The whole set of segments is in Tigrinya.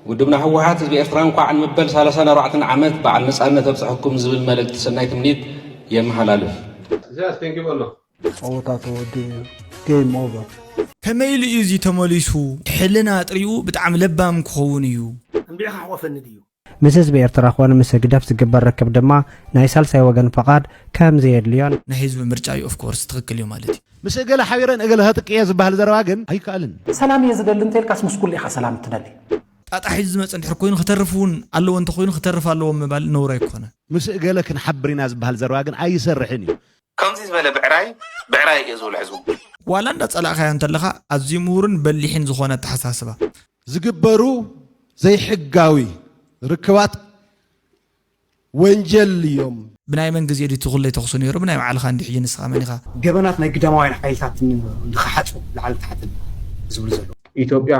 ውድብና ህወሓት ህዝቢ ኤርትራ እንኳዕ ንመበል ሳላሳን ኣርባዕተን ዓመት በዓል ነጻነት ኣብፀሐኩም ዝብል መልእክቲ ሰናይ ትምኒት የመሓላልፍ። ኢሳያስ ደንጊቡ ኣሎ። ጸወታ ተወዲኡ እዩ game over። ከመይ ኢሉ እዩ እዚ ተመሊሱ ሕልና ኣጥሪኡ ብጣዕሚ ለባም ክኸውን እዩ። እንድዒ ከሕቆፈኒ ድዩ? ምስ ህዝቢ ኤርትራ ኮነ ምስ ህግደፍ ዝግበር ርክብ ድማ ናይ ሳልሳይ ወገን ፍቓድ ከምዘየድልዮን፣ ናይ ህዝቢ ምርጫ እዩ of course ትኽክል እዩ ማለት እዩ። ምስ እገለ ሓቢረ ንእገለ ከጥቅእ እየ ዝበሃል ዘረባ ግን ኣይከኣልን እዩ። ሰላም እየ ዝደሊ እንተልካስ ምስ ኩሉ ኢኻ ሰላም እትደሊ። ጣጣ ሒዙ ዝመጸ እንድሕር ኮይኑ ክተርፍ እውን ኣለዎ እንተኾይኑ ክተርፍ ኣለዎ ምባል ነውሪ ኣይኮነን። ምስ እገለ ክንሓብር ኢና ዝበሃል ዘረባ ግን ኣይሰርሕን እዩ። ከምዚ ዝበለ ብዕራይ ብዕራይ እየ ዝብሎ ሕዝቡ። ዋላ እንዳጸላእካዮ እንተለኻ ኣዝዩ ምሁርን በሊሕን ዝኾነ ኣተሓሳስባ። ዝግበሩ ዘይሕጋዊ ርክባት ወንጀል እዮም። ብናይ መን ግዜ ድዩ እቲ ኩለይ ተኹሲ ነይሩ ብናይ ባዕልኻ እንድዩ ሕጂ ንስኻ መን ኢኻ። ገበናት ናይ ግዳማውያን ሓይልታት ንክሓጹ ላዕልን ታሕትን ዝብሉ ዘለዉ። ኢትዮጵያ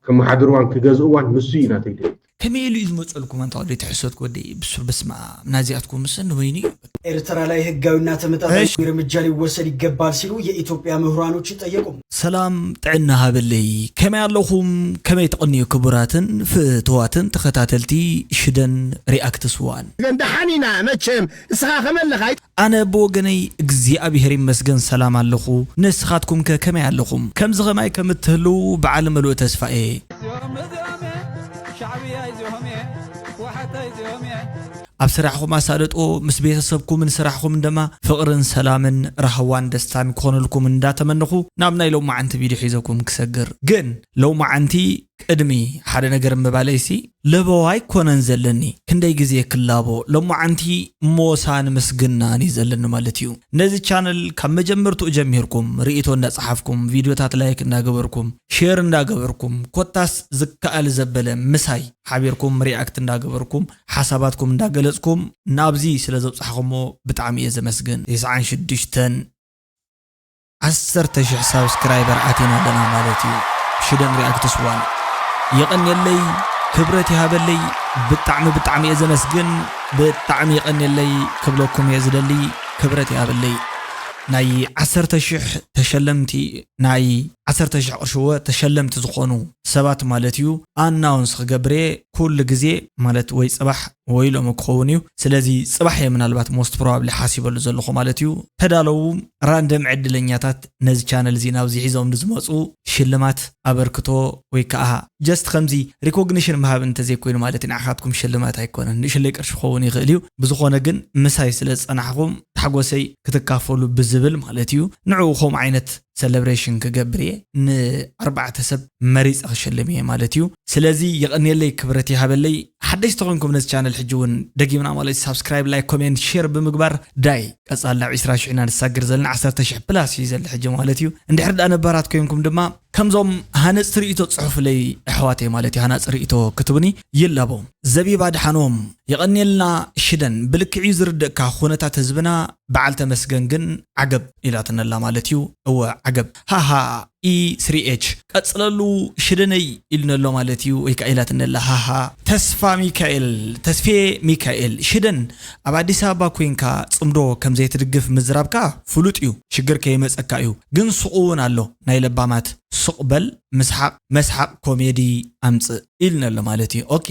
ከመሓድርዋን ክገዝእዋን ንሱ እዩ ናተይ ድሌት። ከመይ ኢሉ እዩ ዝመጸልኩም ኣንታ ወደይ ተሕሶትክ ወደይ ብሱር በስመኣም ናዚኣትኩምሰ ንበይኑ እዩ በቃ። ኤርትራ ላይ ህጋዊና ተመጣጣኝ እርምጃ ሊወሰድ ይገባል ሲሉ የኢትዮጵያ ምሁራኖች ጠየቁ። ሰላም ጥዕና ሃበለይ ከመይ ኣለኹም ከመይ ትቕንዩ ክቡራትን ፍትዋትን ተኸታተልቲ ሽደን ሪኣክትስ ዋን። ግን ደሓን ኢና መቸም እስኻ ከመይ ኣለኻ። ኣነ ብወገነይ እግዚኣብሔር ይመስገን ሰላም ኣለኹ ንስኻትኩም ከ ከመይ ኣለኹም ከምዚ ከማይ ከም እትህልው በዓል ምሉእ ተስፋ እየ። ኣብ ስራሕኹም ኣሳልጦ ምስ ቤተሰብኩምን ስራሕኹምን ደማ ፍቕርን ሰላምን ራህዋን ደስታን ክኾነልኩም እንዳ ተመነኹ ናብ ናይ ሎማዓንቲ ቪድዮ ሒዘኩም ክሰግር ግን ሎማዓንቲ ቅድሚ ሓደ ነገር ምባለይ ሲ ለበዋ ኣይኮነን ዘለኒ ክንደይ ግዜ ክላቦ ሎማዓንቲ ሞሳን ምስግናን እዩ ዘለኒ ማለት እዩ ነዚ ቻነል ካብ መጀመርትኡ ጀሚርኩም ሪኢቶ እንዳ ጸሓፍኩም ቪድዮታት ላይክ እንዳ ገበርኩም ሼር እንዳ ገበርኩም ኮታስ ዝከኣል ዘበለ ምሳይ ሓቢርኩም ሪኣክት እንዳ ገበርኩም ሓሳባትኩም እንዳገለጽኩም ናብዚ ስለ ዘብጻሕኹሞ ብጣዕሚ እየ ዘመስግን። ቴስዓን ሽዱሽተን ዓሰርተ ሽሕ ሳብስክራይበር ኣቲና ኣለና ማለት እዩ ሽደን ሪኣክትስ ዋን። የቐንየለይ ክብረት ይሃበለይ ብጣዕሚ ብጣዕሚ እየ ዘመስግን ብጣዕሚ የቐንየለይ ክብለኩም እየ ዝደሊ ክብረት ይሃበለይ ናይ ዓሰርተ ሽሕ ተሸለምቲ ናይ ዓሰርተ ሽሕ ቅርሺ እወ ተሸለምቲ ዝኾኑ ሰባት ማለት እዩ ኣናውንስ ክገብር እየ ኩሉ ግዜ ማለት ወይ ጽባሕ ወይ ሎሚ ክኸውን እዩ ስለዚ ጽባሕ እየ ምናልባት ሞስት ፕሮባብሊ ሓሲበሉ ዘለኹ ማለት እዩ ተዳለዉ ራንደም ዕድለኛታት ነዚ ቻነል እዚ ናብዚ ሒዞምሉ ዝመጹ ሽልማት ኣበርክቶ ወይ ከኣ ጀስት ከምዚ ሪኮግኒሽን ምሃብ እንተዘይኮይኑ ማለትይ ንዓካትኩም ሽልማት ኣይኮነን ንእሽለይ ቅርሺ ክከውን ይክእል እዩ ብዝኮነ ግን ምሳይ ስለ ዝጸናሕኩም ታሕጎሰይ ክትካፈሉ ብዝብል ማለት እዩ ንዕኡ ከምኡ ዓይነት ሰለብረሽን ክገብር እየ ን ኣርባዕተ ሰብ መሪጸ ክሽልም እየ ማለት እዩ ስለዚ የቀንየለይ ክብረት ይሃበለይ ሓደሽቲ ኮንኩም ነዚ ቻነል ሕጂ ውን ደጊምና ማለት እዩ ሳብስክራይብ ላይክ ኮሜንት ሸር ብምግባር ዳይ ቀጻሊ ናብ ዕስራ ሽሕ ኢና ንሳግር ዘለና ዓሰርተ ሽሕ ፕላስ እዩ ዘሎ ሕጂ ማለት እዩ እንድሕር ድኣ ነባራት ኮንኩም ድማ ከምዞም ሃነጽቲ ርእይቶ ጽሑፍለይ ኣሕዋተይ ማለት'ዩ ሃናጺ ርእይቶ ክትቡኒ ይላቦ። ዘቢብ ኣድሓኖም የቐንየልና ሽደን ብልክዕ'ዩ ዝርድእካ ኩነታት ህዝብና በዓል ተመስገን ግን ዓገብ ኢላትነላ ማለት'ዩ እወ ዓገብ ሃሃ ESriech ቀጽለሉ ሽደነይ ኢሉነሎ ማለት'ዩ ወይ ከኣ ኢላትነላ ሃሃ። ተስፋሚካኤል ተስፌ ሚካኤል ሽደን ኣብ ኣዲስ ኣበባ ኮንካ ጽምዶ ከምዘይትድግፍ ምዝራብካ ፍሉጥ'ዩ ሽግር ከይመጸካ'ዩ ግን ሱቕ'ውን ኣሎ። ናይ ለባማት ሱቅ በል ምስሓቅ መስሓቅ ኮሜዲ ኣምጽእ ኢልና ኣሎ ማለት እዩ ኦኬ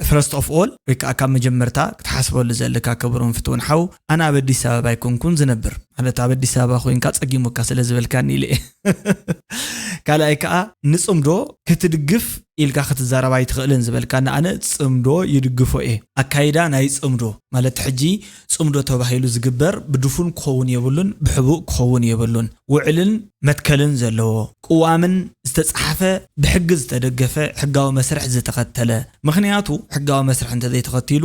ፈርስት ኦፍ ኦል ወይ ከዓ ካብ መጀመርታ ክትሓስበሉ ዘለካ ክብሩን ፍትውን ሓው ኣነ ኣብ ኣዲስ ኣበባ ኣይኮንኩን ዝነብር ማለት ኣብ ኣዲስ ኣበባ ኮይንካ ጸጊሙካ ስለ ዝበልካኒ ኢለ ካልኣይ ከዓ ንጽምዶ ክትድግፍ ኢልካ ክትዛረብ ኣይትኽእልን ዝበልካኒ ኣነ ጽምዶ ይድግፎ እየ ኣካይዳ ናይ ጽምዶ ማለት ሕጂ ጽምዶ ተባሂሉ ዝግበር ብድፉን ክኸውን የብሉን ብሕቡእ ክኸውን የብሉን። ውዕልን መትከልን ዘለዎ፣ ቅዋምን ዝተጻሓፈ ብሕጊ ዝተደገፈ ሕጋዊ መስርሕ ዝተኸተለ፣ ምኽንያቱ ሕጋዊ መስርሕ እንተዘይተኸቲሉ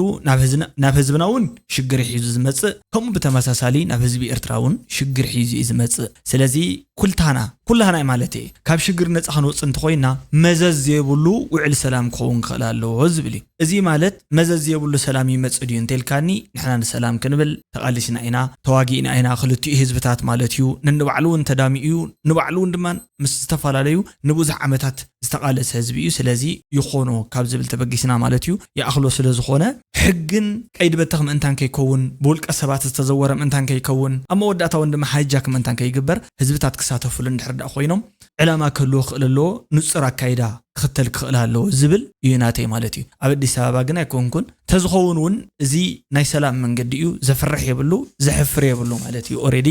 ናብ ህዝብና ውን ሽግር ሒዙ ዝመጽእ ከምኡ ብተመሳሳሊ ናብ ህዝቢ ኤርትራ ውን ሽግር ሒዙ ኢዩ ዝመጽእ ስለዚ ኩልታና ኩላህናይ ማለተይ ካብ ሽግር ነጻ ክንወጽእ እንተኾይና መዘዝ ዘይብሉ ውዕል ሰላም ክኸውን ክኽእል ኣለዎ ዝብል ኢዩ። እዚ ማለት መዘዝ ዘይብሉ ሰላም ይመጽእ ድዩ እንተልካኒ ንሕና ንሰላም ክንብል ተቃሊስና ኢና ተዋጊእና ኢና ክልቲኡ ህዝብታት ማለት እዩ ነንባዕሉ ውን ተዳሚኡ እዩ ንባዕሉ ውን ድማ ምስ ዝተፈላለዩ ንቡዙሕ ዓመታት ዝተቃለሰ ህዝቢ እዩ ስለዚ ይኾኖ ካብ ዝብል ተበጊስና ማለት እዩ ይኣኽሎ ስለ ዝኾነ ሕግን ቀይዲ በተኽ ምእንታን ከይከውን ብውልቀ ሰባት ዝተዘወረ ምእንታን ከይከውን ኣብ መወዳእታ ውን ድማ ሃይጃክ ምእንታን ከይግበር ህዝብታት ክሳተፍሉ እንድሕር ድኣ ኮይኖም ዕላማ ክህልዎ ክኽእል ኣለዎ፣ ንጹር ኣካይዳ ክኽተል ክኽእል ኣለዎ ዝብል ኢዩ ናተይ ማለት ኢዩ። ኣብ ኣዲስ ኣበባ ግን ኣይኮንኩን። ተዝኸውን ውን እዚ ናይ ሰላም መንገዲ ኢዩ፣ ዘፍርሕ የብሉ፣ ዘሕፍር የብሉ ማለት ኢዩ። ኦሬዲ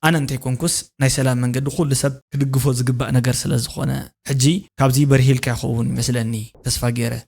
ኣነ እንተይኮንኩስ ናይ ሰላም መንገዲ ኩሉ ሰብ ክድግፎ ዝግባእ ነገር ስለዝኾነ። ሕጂ ካብዚ በሪህ ኢልካ ይኸውን ይመስለኒ ተስፋ ጌረ።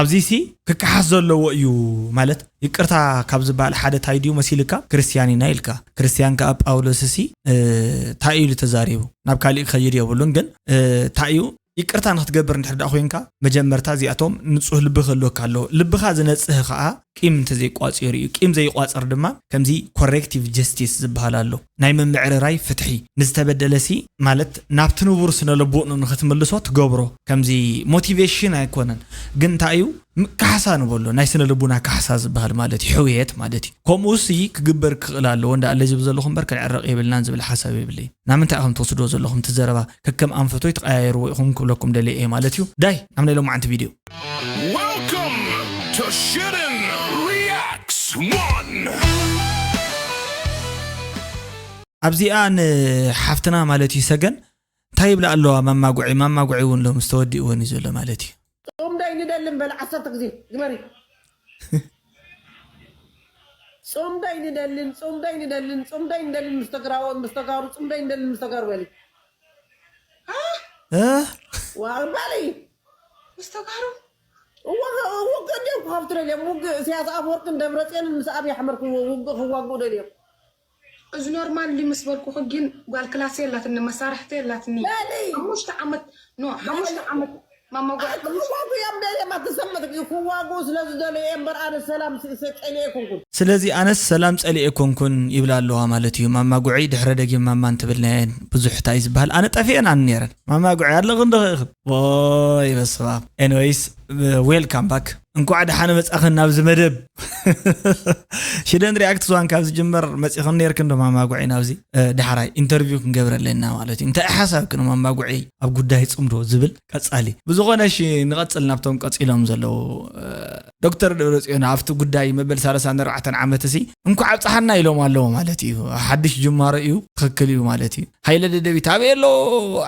ኣብዚሲ ክከሓስ ዘለዎ እዩ ማለት ይቅርታ ካብ ዝባሃል ሓደ ታይ ድዩ መሲልካ ክርስትያን ኢና ኢልካ ክርስትያን ካኣ ጳውሎስሲ ታይ ኢሉ ተዛሪቡ ናብ ካሊእ ክከይድ የብሉን ግን ታይ እዩ ይቅርታ ንክትገብር እንድሕር ዳኣ ኮንካ መጀመርታ እዚኣቶም ንጹህ ልቢ ክህልወካ ኣለዎ ልብካ ዝነጽህ ካኣ ቂም እንተዘይቋጺሩ እዩ ቂም ዘይቋጽር ድማ ከምዚ ኮሬክቲቭ ጀስቲስ ዝባሃል ኣሎ ናይ ምምዕርራይ ፍትሒ ንዝተበደለሲ ማለት ናብቲ ንቡር ስነልቦእኑ ንክትምልሶ ትገብሮ ከምዚ ሞቲቬሽን ኣይኮነን ግን እንታይ እዩ ካሕሳ ንበሎ ናይ ስነልቡና ካሕሳ ዝበሃል ማለት እዩ ሕውየት ማለት እዩ ከምኡሲ ክግበር ክኽእል ኣለዎ እንዳ ኣለዚ ብዘለኹ እምበር ክንዕረቕ የብልናን ዝብል ሓሳብ የብለይን ናምንታይ ኢኹም ትወስድዎ ዘለኹም እቲ ዘረባ ከከም ኣንፈቱ ኣይትቀያየርዎ ኢኹም ክብለኩም ደልየ እየ ማለት እዩ ዳይ ናብ ናይ ሎማዓንቲ ቪድዮ። Welcome to Shittin Reacts One! ኣብዚኣ ን ሓፍትና ማለት እዩ ሰገን እንታይ ይብላ ኣለዋ መማጉዒ ማማጉዒ ውን ሎምስ ተወዲእወን እዩ ዘሎ ማለት እዩ። ጽምዶ ኣይንደልን በል ዓሰርተ ግዜ ግበሪ። ጽምዶ ኣይንደልን ጽምዶ ኣይንደልን ጽምዶ ኣይንደልን ምስ ተግራዎት ምስ ተጋሩ ጽምዶ ኣይንደልን ምስ ተጋሩ በሊ። ዋው በሊ ምስ ተጋሩ ውግእ ድዮም ክኸፍቱ ደልዮም ውግእ እሳያስ ኣፈወርቅን ደብረጽዮንን ምስ ኣብይ ኣሕመድ ክውግእ ክዋግኡ ደልዮም እዚ ኖርማል ድዩ ምስ በልኩኺ ግን ጓል ክላስ የላትኒ መሳርሕቲ የላትኒ በሊ ሓሙሽተ ዓመት ኖ ሓሙሽተ ዓመት ማማ ጓል ክዋጉ እዮም ደልዮም ኣተሰመትክ እዩ ክዋጉ ስለ ዝደልዩ እዮም እምበር ኣነ ሰላም ጸልየ ኣይኮንኩን። ስለዚ ኣነስ ሰላም ጸሊኤ ኣይኮንኩን ይብላ ኣለዋ ማለት እዩ ማማ ጉዕይ ድሕረ ደጊም ማማ እንትብልናየን ብዙሕ ታይ እዩ ዝብሃል ኣነ ጠፊኤን ኣነ ነይረን ማማ ጉዕይ ኣለኽን ዶ ኢኽን ኦይ በስማም ኤንወይስ ዌል ካም ባክ እንኳዕ ደሓነ መጻኸን ናብዚ መደብ ሽደን ሪኣክት ዝዋን ካብ ዝጅመር መጺኸን ነርክን ዶ ማማጉዒ ናብዚ ዳሕራይ ኢንተርቪው ክንገብረ ኣለና ማለት እዩ እንታይ ሓሳብክ ን ማማጉዒ ኣብ ጉዳይ ጽምዶ ዝብል ቀጻሊ ብዝኾነ ሺ ንቐጽል ናብቶም ቀጺሎም ዘለዉ ዶክተር ደብረጽዮን ኣብቲ ጉዳይ መበል ሳለሳን ኣርባዕተን ዓመት እሲ እንኳዕ ኣብጽሓና ኢሎም ኣለዎ ማለት እዩ ሓድሽ ጅማሮ እዩ ትኽክል እዩ ማለት እዩ ሃይለ ደደቢት ኣበይ ኣሎ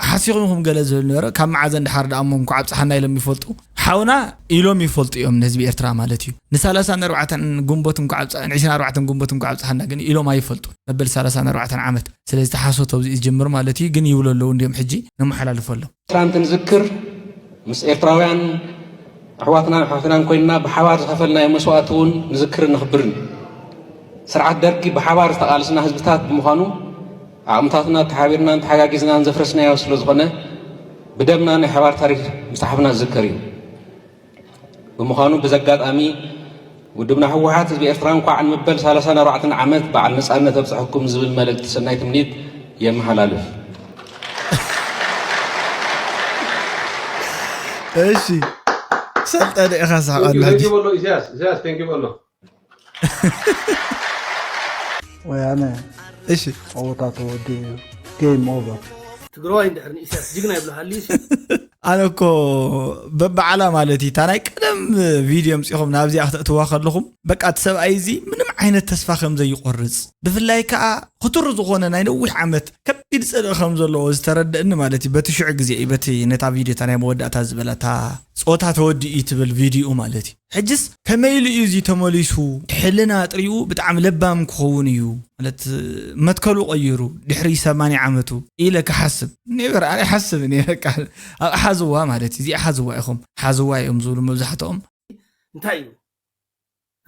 ሓሲኹም ኢኹም ገለ ዝብል ነበረ ካብ መዓዘ ንድሓር ደኣ እሞ እንኳዕ ኣብጽሓና ኢሎም ይፈልጡ ሓውና ኢሎም ይፈልጡ እዮም ንህዝቢ ኤርትራ ማለት እዩ ንሳላሳን ኣርባዕተን ግንቦት እንኳዕ ኣብጽ ንዕስራን ኣርባዕተን ግንቦት እንኳዕ ኣብጽሓና ግን ኢሎም ኣይፈልጡ መበል ሳላሳን ኣርባዕተን ዓመት ስለዚ ተሓሶት ኣብዚ ዝጅምር ማለት እዩ ግን ይብሉ ኣለዉ እንዲዮም ሕጂ ነመሓላልፎ ኣሎም ትናንት ንዝክር ምስ ኤርትራውያን ኣሕዋትናን ኣሕዋትናን ኮይንና ብሓባር ዝኸፈልናዮ መስዋእቲ እውን ንዝክርን ነኽብርን ስርዓት ደርጊ ብሓባር ዝተቓልስና ህዝብታት ብምዃኑ ዓቕምታትና ተሓቢርናን ተሓጋጊዝናን ዘፍረስናዮ ስለ ዝኾነ ብደምና ናይ ሓባር ታሪክ ምፅሓፍና ዝዝከር እዩ ብምዃኑ ብዚ ኣጋጣሚ ውድብና ህወሓት ህዝቢ ኤርትራ እንኳዕ ንመበል ሰላሳን ኣርባዕተን ዓመት በዓል ነጻነት ኣብጽሐኩም ዝብል መልእክቲ ሰናይ ትምኒት የመሓላልፍ። እሺ ሰልጠነ ኢኻ ስሓቕ ኣሎ ሕጂ ቴንኪ በሎ ኢሳያስ ኢሳያስ ቴንኪ በሎ ወያነ እሺ ጸወታ ተወዲኡ እዩ ጌም ኦቨር ትግራዋይ እንድሕር ንኢሳያስ ጅግና ይብሎ ሃልዩ ሲ ኣነ እኮ በብዓላ ማለት እዩ እታ ናይ ቀደም ቪድዮ ምፅኹም ናብዚኣ ክተእትዋ ከለኹም በቃ እቲ ሰብኣይ እዚ ምንም ዓይነት ተስፋ ከም ዘይቆርፅ ብፍላይ ከዓ ክቱር ዝኾነ ናይ ነዊሕ ዓመት ከቢድ ፅልኢ ከም ዘለዎ ዝተረደእኒ ማለት እዩ በቲ ሽዑ ግዜ እዩ በቲ ነታ ቪድዮ እታ ናይ መወዳእታ ዝበላ እታ ፆታ ተወዲኡ እዩ ትብል ቪድዮኡ ማለት እዩ ሕጅስ ከመይ ኢሉ እዩ እዚ ተመሊሱ ሕልና ጥሪኡ ብጣዕሚ ለባም ክኸውን እዩ ማለት መትከሉ ቀይሩ ድሕሪ ሰማንያ ዓመቱ ኢለ ክሓስብ ኔቨር ኣነ ኣይሓስብን እየ በቃ ኣብ ሓዝዋ ማለት እዩ እዚኣ ሓዝዋ ኢኹም ሓዝዋ እዮም ዝብሉ መብዛሕትኦም እንታይ እዩ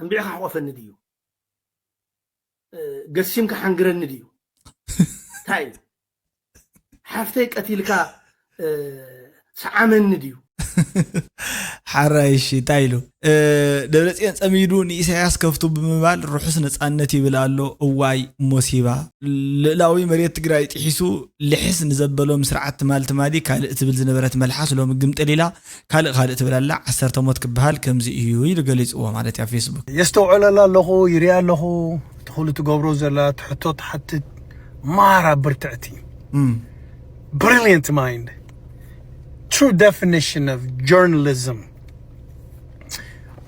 እንቢዕካ ሕቆፈኒ ድዩ ገሲምካ ሓንግረኒ ድዩ እንታይ እዩ ሓፍተይ ቀቲልካ ሰዓመኒ ድዩ ሓራይ እሺ እንታይ ኢሉ ደብረፅዮን ፀሚዱ ንኢሳያስ ከፍቱ ብምባል ርሑስ ነፃነት ይብል ኣሎ እዋይ ሞሲባ ልእላዊ መሬት ትግራይ ጥሒሱ ልሕስ ንዘበሎም ስርዓት ትማል ትማሊ ካልእ ትብል ዝነበረት መልሓስ ሎሚ ግምጥል ኢላ ካልእ ካልእ ትብል ኣላ ዓሰርተ ሞት ክበሃል ከምዚ እዩ ኢሉ ገሊጽዎ ማለት እዩ ኣብ ፌስቡክ። የስተውዕለላ ኣለኹ ይሪኣ ኣለኹ እቲ ኩሉ ትገብሮ ዘላ እቲ ሕቶ ትሓትት ማራ ብርትዕቲ ብሪልየንት ማይንድ ትሩ ደፊኒሽን ኦፍ ጆርናሊዝም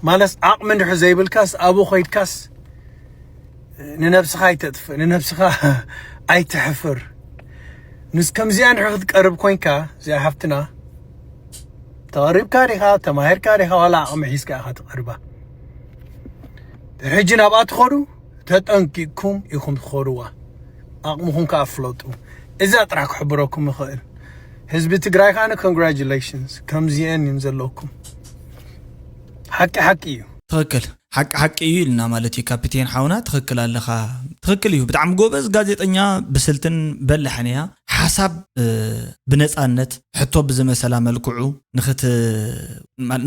ማለት ዓቕሚ እንድሕር ዘይብልካስ ኣብኡ ኮይድካስ ንነብስኻ ኣይተጥፍእ ንነብስኻ ኣይትሕፍር ምስ ከምዚኣ እንድሕር ክትቀርብ ኮንካ እዚኣ ሓፍትና ተቐሪብካ ዲኻ ተማሂርካ ዲኻ ዋላ ዓቕሚ ሒዝካ ኢኻ ትቐርባ ሕጂ ናብኣ ትኸዱ ተጠንቂቕኩም ኢኹም ትኸዱዋ ዓቕምኹም ከዓ ፍለጡ እዛ ጥራሕ ክሕብረኩም ይኽእል ህዝቢ ትግራይ ካነ ኮንግራጁሌሽንስ ከምዚአን እዮም ዘለኩም ሓቂ ሓቂ እዩ ትኽክል ሓቂ ሓቂ እዩ ኢልና ማለት እዩ ካፒቴን ሓውና ትኽክል ኣለኻ ትኽክል እዩ ብጣዕሚ ጎበዝ ጋዜጠኛ ብስልትን በላሕን እያ ሓሳብ ብነፃነት ሕቶ ብዝመሰላ መልክዑ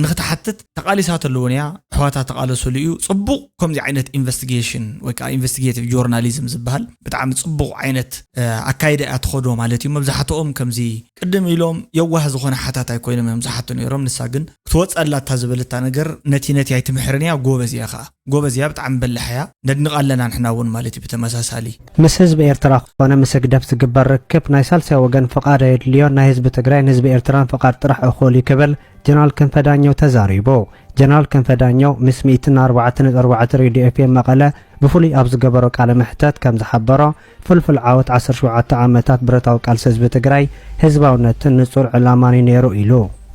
ንክትሓትት ተቃሊሳ ተለውን እያ ኣሕዋታ ተቃለስሉ እዩ ፅቡቅ ከምዚ ዓይነት ኢንቨስቲጌሽን ወይ ከዓ ኢንቨስቲጌቲቭ ጆርናሊዝም ዝበሃል ብጣዕሚ ፅቡቅ ዓይነት ኣካይዳ እያ ትኸዶ ማለት እዩ መብዛሕትኦም ከምዚ ቅድም ኢሎም የዋህ ዝኾነ ሓታታይ ኮይኖም እዮም ዝሓቱ ነይሮም ንሳ ግን ክትወጸላ እታ ዝበለታ ነገር ነቲ ነቲ ኣይትምሕርን እያ ጎበዝ እያ ከኣ ጎበዝ እያ ብጣዕሚ በላሕ እያ ነድንቃ ኣለና ንሕና ውን ማለት እዩ ብተመሳሳሊ ምስ ህዝቢ ኤርትራ ኮነ ምስ ህግደፍ ዝግበር ርክብ ናይ ሳልሳይ ወገን ፍቓድ ኣየድልዮን ናይ ህዝቢ ትግራይን ህዝቢ ኤርትራን ፍቓድ ጥራሕ እኹል እዩ ክብል ጀነራል ክንፈ ዳኘው ተዛሪቡ። ጀነራል ክንፈ ዳኘው ምስ ሚእትን ኣርባዕተን ነጥቢ ኣርባዕተ ሬድዮ ኤፍኤም መቐለ ብፍሉይ ኣብ ዝገበሮ ቃለ መሕተት ከምዝሓበሮ ፍልፍል ዓወት ዓሰርተ ሸውዓተ ዓመታት ብረታዊ ቃልሲ ህዝቢ ትግራይ ህዝባውነትን ንፁር ዕላማን እዩ ነይሩ ኢሉ።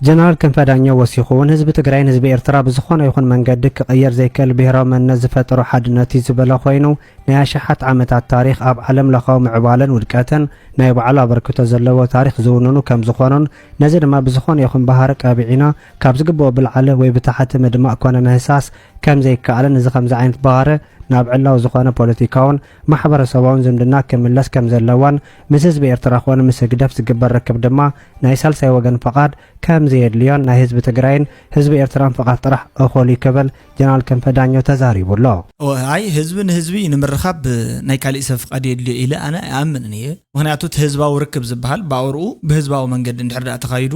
ጀነራል ክንፈ ዳኘው ወሲኹ እውን ህዝቢ ትግራይን ህዝቢ ኤርትራ ብዝኾነ ይኹን መንገዲ ክቕየር ዘይክእል ብሄራዊ መንነት ዝፈጠሮ ሓድነት እዩ ዝበለ ኮይኑ ናይ ኣሽሓት ዓመታት ታሪኽ ኣብ ዓለም ለኻዊ ምዕባለን ውድቀትን ናይ ባዕሉ ኣበርክቶ ዘለዎ ታሪኽ ዝውንኑ ከም ዝኾኑን ነዚ ድማ ብዝኾነ ይኹን ባህሪ ቀቢዕና ካብ ዝግበኦ ብልዓለ ወይ ብታሕቲ ምድማእ ኮነ ምህሳስ ከም ዘይከኣልን እዚ ከምዚ ዓይነት ባህሪ ናብ ዕላዊ ዝኾነ ፖለቲካውን ማሕበረሰባውን ዝምድና ክምለስ ከም ዘለዋን ምስ ህዝቢ ኤርትራ ኮነ ምስ ህግደፍ ዝግበር ርክብ ድማ ናይ ሳልሳይ ወገን ፍቓድ ከም ዘየድልዮን ናይ ህዝቢ ትግራይን ህዝቢ ኤርትራን ፍቓድ ጥራሕ እኹል እዩ ክብል ጀነራል ክንፈ ዳኘው ተዛሪቡ ኣሎ። እወ ኣይ ህዝቢ ንህዝቢ ንምርኻብ ናይ ካሊእ ሰብ ፍቓድ የድልዮ ኢለ ኣነ ኣይኣምንን እየ። ምኽንያቱ እቲ ህዝባዊ ርክብ ዝበሃል ብኣውርኡ ብህዝባዊ መንገዲ እንድሕር ድኣ ተኻይዱ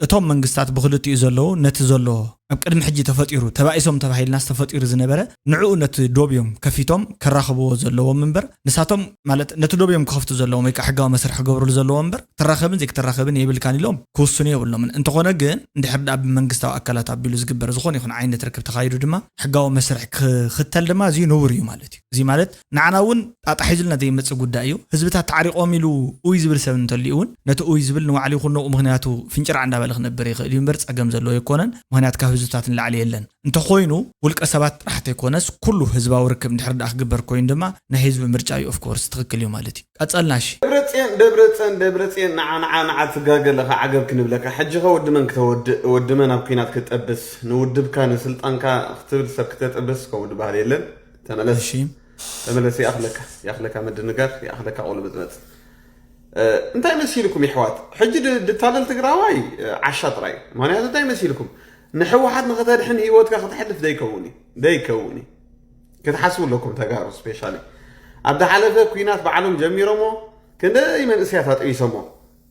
እቶም መንግስታት ብኽልቲኡ ዘለዉ ነቲ ዘሎ ኣብ ቅድሚ ሕጂ ተፈጢሩ ተባኢሶም ተባሂልናስ ተፈጢሩ ዝነበረ ንዕኡ ነቲ ዶብ እዮም ከፊቶም ከራኽብዎ ዘለዎም እምበር ንሳቶም ማለት ነቲ ዶብ እዮም ክኸፍቱ ዘለዎም ወይ ከኣ ሕጋዊ መስርሕ ክገብርሉ ዘለዎም እምበር ክትራኸብን ዘይክትራኸብን የብልካን ኢሎም ክውስኑ የብሎምን እንተኾነ ግን እንድሕር ድኣ ብመንግስታዊ ኣካላት ኣቢሉ ዝግበር ዝኾነ ይኹን ዓይነት ርክብ ተኻይዱ ድማ ሕጋዊ መስርሕ ክኽተል ድማ እዚ ንቡር እዩ ማለት እዩ እዚ ማለት ንዓና እውን ጣጣ ሒዙልና ዘይመፅእ ጉዳይ እዩ። ህዝብታት ተዓሪቖም ኢሉ ኡይ ዝብል ሰብ እንተልዩ እውን ነቲ ኡይ ዝብል ንባዕሉ ይኹን ንኡ ምኽንያቱ ፍንጭራዕ እንዳበለ ክነብር ይኽእል እዩ እምበር ፀገም ዘለዎ ኣይኮነን። ምኽንያት ካብ ህዝብታት ንላዕሊ የለን። እንተኾይኑ ውልቀ ሰባት ጥራሕ ተይኮነስ ኩሉ ህዝባዊ ርክብ እንድሕር ድኣ ክግበር ኮይኑ ድማ ናይ ህዝቢ ምርጫ እዩ ኦፍ ኮርስ ትኽክል እዩ ማለት እዩ። ቀፀልና እሺ። ደብረፅየን ደብረፀን ደብረፅየን ናዓ ናዓ ናዓ ትጋገ ኣለኻ ዓገብ ክንብለካ ሕጂኸ ወዲ መን ክተወድእ ወዲ መን ኣብ ኩናት ክትጠብስ ንውድብካ ንስልጣንካ ክትብል ሰብ ክተጥብስ ከምኡ ድባሃል የለን። ተመለስ ተመለስ ይኣኽለካ ይኣኽለካ ምድንጋር ይኣኽለካ ቁልምጽመጽ እንታይ መሲልኩም ይሕዋት ሕጂ ድታለል ትግራዋይ ዓሻ ጥራይ ምክንያቱ እንታይ መሲልኩም ንሕወሓት ንክተድሕን ሂወትካ ክተሕልፍ ዘይከውን እዩ ዘይከውን እዩ ክትሓስቡ ኣለኩም ተጋሩ ስፔሻሊ ኣብ ዝሓለፈ ኩናት ባዕሎም ጀሚሮሞ ክንደይ መንእስያት ኣጥቢሶሞ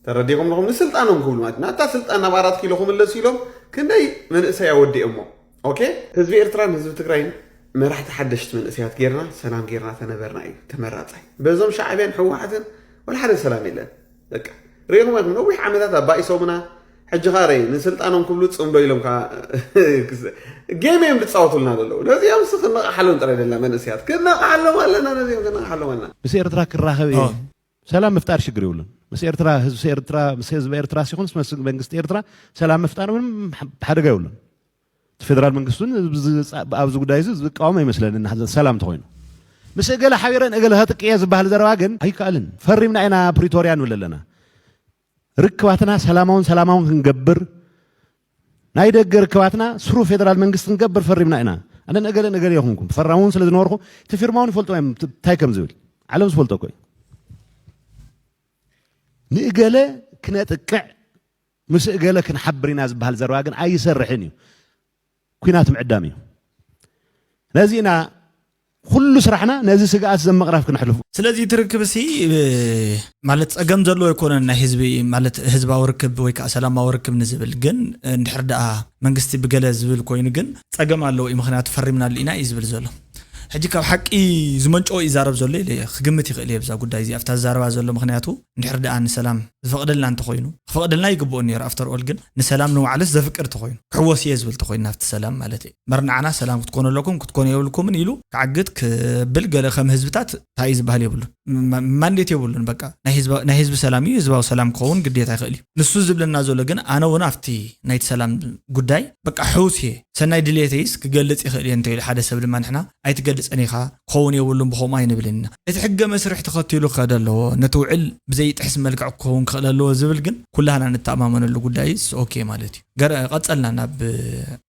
ተረዲኹም ኣለኹም ንስልጣኖም ክብሉ ማለት ናብታ ስልጣን ናብ ኣራት ኪሎ ክምለሱ ኢሎም ክንደይ መንእሰይ ኣወዲኦሞ ኦኬ ህዝቢ ኤርትራን ህዝቢ ትግራይን መራሕቲ ሓደሽቲ መንእሰያት ጌርና ሰላም ጌርና ተነበርና እዩ ተመራጻይ በዞም ሻዕብያን ሕወሓትን ወላ ሓደ ሰላም የለን በቃ ሪኢኹም ኢኹም ነዊሕ ዓመታት ኣባኢሶምና ሕጂ ኸኣ ረይ ንስልጣኖም ክብሉ ጽምዶ ኢሎም ከዓ ጌም እዮም ዝፃወቱልና ዘለዉ ነዚኦም ስ ክነቕሓሎም ጥራይ ደላ መንእሰያት ክነቕሓሎም ኣለና ነዚኦም ክነቕሓሎም ኣለና ምስ ኤርትራ ክራኸብ እየ ሰላም ምፍጣር ሽግር የብሉን። ምስ ኤርትራ ህዝቢ ኤርትራ ምስ ህዝቢ ኤርትራ ሲኹንስ ምስ መንግስቲ ኤርትራ ሰላም ምፍጣር ምንም ሓደጋ የብሉን። እቲ ፌደራል መንግስቲ እውን ኣብዚ ጉዳይ እዚ ዝቃወም ኣይመስለንን ሓዘን ሰላም እንተኾይኑ ምስ እገለ ሓቢረን እገለ ከጥቅየ ዝበሃል ዘረባ ግን ኣይከኣልን። ፈሪምና ኢና ፕሪቶርያ ንብል ኣለና። ርክባትና ሰላማውን ሰላማውን ክንገብር ናይ ደገ ርክባትና ስሩ ፌደራል መንግስቲ ክንገብር ፈሪምና ኢና ኣነ ነገለ ነገለ የኹንኩም ፈራሚ እውን ስለ ዝነበርኩ እቲ ፊርማ እውን ይፈልጡ እንታይ ከም ዝብል ዓለም ዝፈልጦ እኮ እዩ ንእገለ ክነጥቅዕ ምስ እገለ ክንሓብር ኢና ዝበሃል ዘረባ ግን ኣይሰርሕን እዩ ኩናት ምዕዳም እዩ። ነዚ ኢና ኩሉ ስራሕና ነዚ ስግኣት ዘምቕራፍ ክነሕልፉ። ስለዚ እቲ ርክብሲ ማለት ጸገም ዘለዎ ኣይኮነን ናይ ህዝቢ ማለት ህዝባዊ ርክብ ወይ ከኣ ሰላማዊ ርክብ ንዝብል ግን እንድሕር ደኣ መንግስቲ ብገለ ዝብል ኮይኑ ግን ጸገም ኣለዎ እዩ ምኽንያቱ ፈሪምናሉ ኢና እዩ ዝብል ዘሎ ሕጂ ካብ ሓቂ ዝመንጨወ ይዛረብ ዘሎ ኢለ እየ ክግምት ይኽእል እየ ብዛ ጉዳይ እዚኣ ኣብታ ዝዛረባ ዘሎ ምኽንያቱ እንድሕር ደኣ ንሰላም ዝፈቕደልና እንተኾይኑ፣ ክፈቕደልና ይግብኦ ኔሩ ኣፍተር ኦል ግን ንሰላም ንባዕሉስ ዘፍቅድ ተኾይኑ፣ ክሕወስ ኢየ ዝብል ተኾይኑ ናብቲ ሰላም ማለተይ እምበር ንዓና ሰላም ክትኮኑ ኣለኩም ክትኮኑ የብልኩምን ኢሉ ክዓግት ክብል ገለ ከም ህዝብታት ታይ ኢዩ ዝብሃል የብሉን ማንዴት የብሉን በቃ ናይ ህዝባ ናይ ህዝቢ ሰላም ኢዩ ህዝባዊ ሰላም ክኸውን ግዴታ ይኽእል ኢዩ ንሱ ዝብለና ዘሎ ግን ኣነ ውን ኣብቲ ናይቲ ሰላም ጉዳይ በቃ ሕውስ እየ ሰናይ ድልየተይስ ክገልፅ ይኽእል እየ እንተኢሉ ሓደ ሰብ ድማ ንሕና ኣይትገልፀን ኢኻ ክኸውን የብሉን ብኸምኡ ኣይንብልን ኢና እቲ ሕገ መስርሕ ተኸቲሉ ክኸደ ኣለዎ ነቲ ውዕል ብዘይጥሕስ መልክዕ ክኸውን ክኽእል ኣለዎ ዝብል ግን ኩላህና ንተኣማመነሉ ጉዳይስ ኦኬ ማለት እዩ ገር ቀፀልና ናብ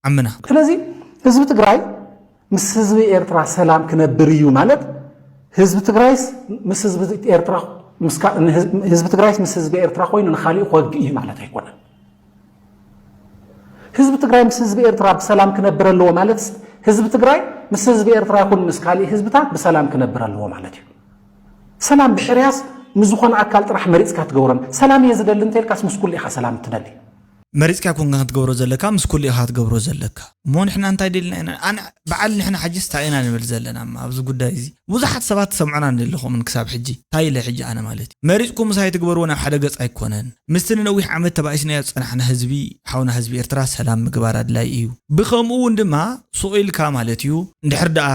ዓምና። ስለዚ ህዝቢ ትግራይ ምስ ህዝቢ ኤርትራ ሰላም ክነብር እዩ ማለት ህዝቢ ትግራይስ ምስ ህዝቢ ኤርትራ ህዝቢ ትግራይስ ምስ ህዝቢ ኤርትራ ኮይኑ ንኻሊኡ ክወግእ እዩ ማለት ኣይኮነን። ህዝቢ ትግራይ ምስ ህዝቢ ኤርትራ ብሰላም ክነብር ኣለዎ ማለት ህዝቢ ትግራይ ምስ ህዝቢ ኤርትራ ይኹን ምስ ካሊእ ህዝብታት ብሰላም ክነብር ኣለዎ ማለት እዩ። ሰላም ብሕርያስ ንዝኾነ ኣካል ጥራሕ መሪፅካ ትገብሮን ሰላም እየ ዝደሊ እንተልካስ ምስ ኩሉ ኢኻ ሰላም እትደሊ መሪጽካ ኣይኮንካን ክትገብሮ ዘለካ ምስ ኩሉ ኢካ ክትገብሮ ዘለካ እሞ ንሕና እንታይ ደልና ኢና ኣነ በዓል ንሕና ሕጂስ እንታይ ኢና ንብል ዘለና እማ ኣብዚ ጉዳይ እዚ ብዙሓት ሰባት ትሰምዑና ደለኹምን ክሳብ ሕጂ እንታይ ኢለ ሕጂ ኣነ ማለት እዩ መሪጽኩም ምሳይ ትግበርዎ ናብ ሓደ ገጽ ኣይኮነን ምስቲ ንነዊሕ ዓመት ተባኢስናዮ ዝጸናሕና ህዝቢ ሓውና ህዝቢ ኤርትራ ሰላም ምግባር ኣድላይ እዩ ብከምኡ ውን ድማ ሱቕ ኢልካ ማለት እዩ እንድሕር ደኣ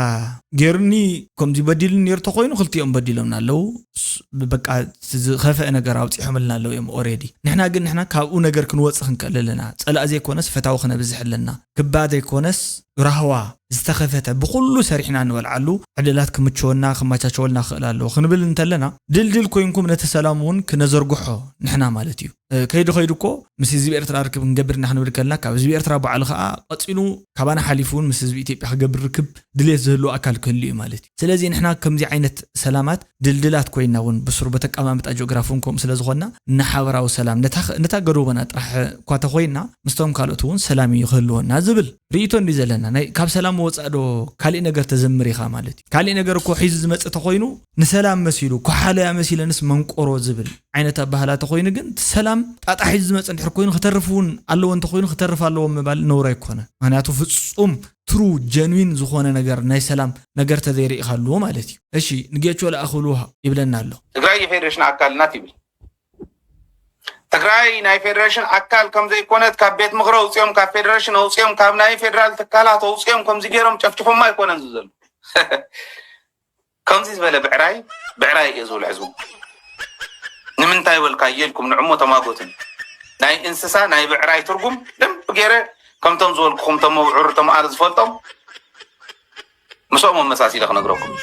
ጌሩኒ ከምዚ በዲሉኒ ኔሩ ተኮይኑ ክልቲኦም በዲሎምና ኣለዉ በቃ እቲ ዝኸፈኤ ነገር ኣውጺሖምልና ኣለዉ እዮም ኦሬዲ ንሕና ግን ንሕና ካብኡ ነገር ክንወጽእ ክንክእል ኣለና ጸላእ ዘይኮነስ ፈታዊ ክነብዝሕ ኣለና ክባ ዘይኮነስ ራህዋ ዝተኸፈተ ብኹሉ ሰሪሕና ንበልዓሉ ዕድላት ክምችወና ክማቻቸወልና ክኽእል ኣለዎ ክንብል እንተለና ድልድል ኮይንኩም ነቲ ሰላም ውን ክነዘርግሖ ንሕና ማለት እዩ። ከይዱ ከይዱ እኮ ምስ ህዝቢ ኤርትራ ርክብ ክንገብር እና ክንብል ከልና ካብ ህዝቢ ኤርትራ ባዕሉ ከኣ ቀጺሉ ካባና ሓሊፉ እውን ምስ ህዝቢ ኢትዮጵያ ክገብር ርክብ ድሌት ዝህልዎ ኣካል ክህሉ እዩ ማለት እዩ። ስለዚ ንሕና ከምዚ ዓይነት ሰላማት ድልድላት ኮይና እውን ብሱሩ በቲ ኣቀማምጣ ጂኦግራፊ እውን ከምኡ ስለዝኾንና ንሓበራዊ ሰላም ነታ ነታ ገዶቦና ጥራሕ እኳ ተኾይንና ምስቶም ካልኦት እውን ሰላም እዩ ክህልወና ዝብል ርእይቶ እንድዩ ዘለና። ናይ ካብ ሰላም ወጻእ ዶ ካሊእ ነገር ተዘምር ኢኻ ማለት እዩ። ካሊእ ነገር እኮ ሒዙ ዝመጽእ ተኾይኑ ንሰላም መሲሉ ኮሓልያ መሲለንስ መንቆሮ ዝብል ዓይነት ኣበሃህላ ተኾይኑ ግን እቲ ሰላም ጣጣ ሒዙ ዝመጽእ እንድሕር ኮይኑ ክተርፍ እውን ኣለዎ እንተኾይኑ ክተርፍ ኣለዎ ምባል ነውሪ ኣይኮነን። ምክንያቱ ፍጹም True Genuine ዝኾነ ነገር ናይ ሰላም ነገር ተዘይሪኢኻሉ ማለት እዩ። እሺ ንጌቾ ልኣኽሉ ይብለና ኣሎ። ትግራይ የፌዴሬሽን ኣካል ናት ይብል። ትግራይ ናይ ፌዴሬሽን ኣካል ከምዘይኮነት ካብ ቤት ምኽሪ ኣውፅኦም ካብ ፌዴሬሽን ኣውፅኦም ካብ ናይ ፌዴራል ትካላት ኣውፅኦም ከምዚ ገይሮም ጨፍጭፎማ ኣይኮነን ዘሎ ከምዚ ዝበለ ብዕራይ ብዕራይ እየ ዝብል ሕዝቡ ንምንታይ በልካዮ ኢልኩም ንዕሞ ተማጎትን ናይ እንስሳ ናይ ብዕራይ ትርጉም ደንብ ገይረ ከምቶም ዝበልኩኹም ቶም ኣብዑር ቶም ኣር ዝፈልጦም ምስኦም ኣመሳሲለ ክነግረኩም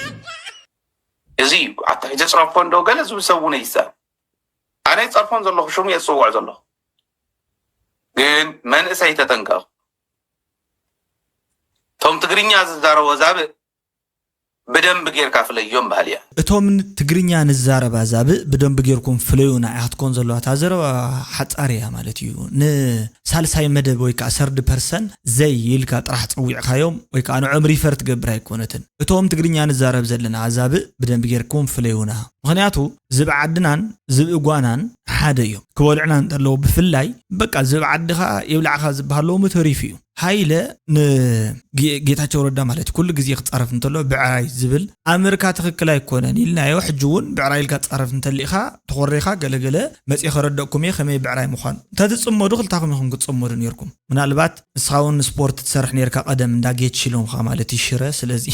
እዚ እዩ ኣታ ዘፅረፎ እንዶ ገለ ዝብል ሰብ እውን ይዛር ኣነ ይፀርፎም ዘለኹ ሽሙ እየ ዝፅውዖ ዘለኹ ግን መንእሰይ ተጠንቀቕ ቶም ትግርኛ ዝዛረቦ ዛብእ ብደንቢ ጌርካ ፍለዮም በሃሊ እያ። እቶም ትግርኛ ንዛረብ ኣዛብእ ብደንቢ ጌርኩም ፍለዩና እያ ክትኮን ዘለዋ እታ ዘረባ ሓጻር እያ ማለት እዩ ን ሳልሳይ መደብ ወይ ከኣ ሰርድ ፐርሰን ዘይ ኢልካ ጥራሕ ጸዊዕካዮም ወይ ከኣ ንዖም ሪፈር ትገብር ኣይኮነትን እቶም ትግርኛ ንዛረብ ዘለና ኣዛብእ ብደንቢ ጌርኩም ፍለዩና ምኽንያቱ ዝብኢ ዓድናን ዝብኢ ጓናን ሓደ እዮም ክበልዑና እንተለዉ ብፍላይ በቃ ዝብኢ ዓድኻ ይብላዕኻ ዝብሃል ሎሚ ተሪፉ እዩ። ሃይለ ንጌታቸው ረዳ ማለት ኩሉ ግዜ ክፃረፍ እንተሎ ብዕራይ ዝብል ኣምርካ ትክክል ኣይኮነን ኢልናዮ ሕጂ እውን ብዕራይ ኢልካ ትፃረፍ እንተሊእካ ተኮሪካ ገለገለ መፅእ ከረደእኩም እየ ከመይ ብዕራይ ምኳኑ እንተትፅመዱ ክልታኩም ኢኩም ክትፅመዱ ነይርኩም ምናልባት ንስካ እውን ስፖርት ትሰርሕ ነይርካ ቀደም እንዳ ጌች ኢሎምካ ማለት እዩ ሽረ ስለዚ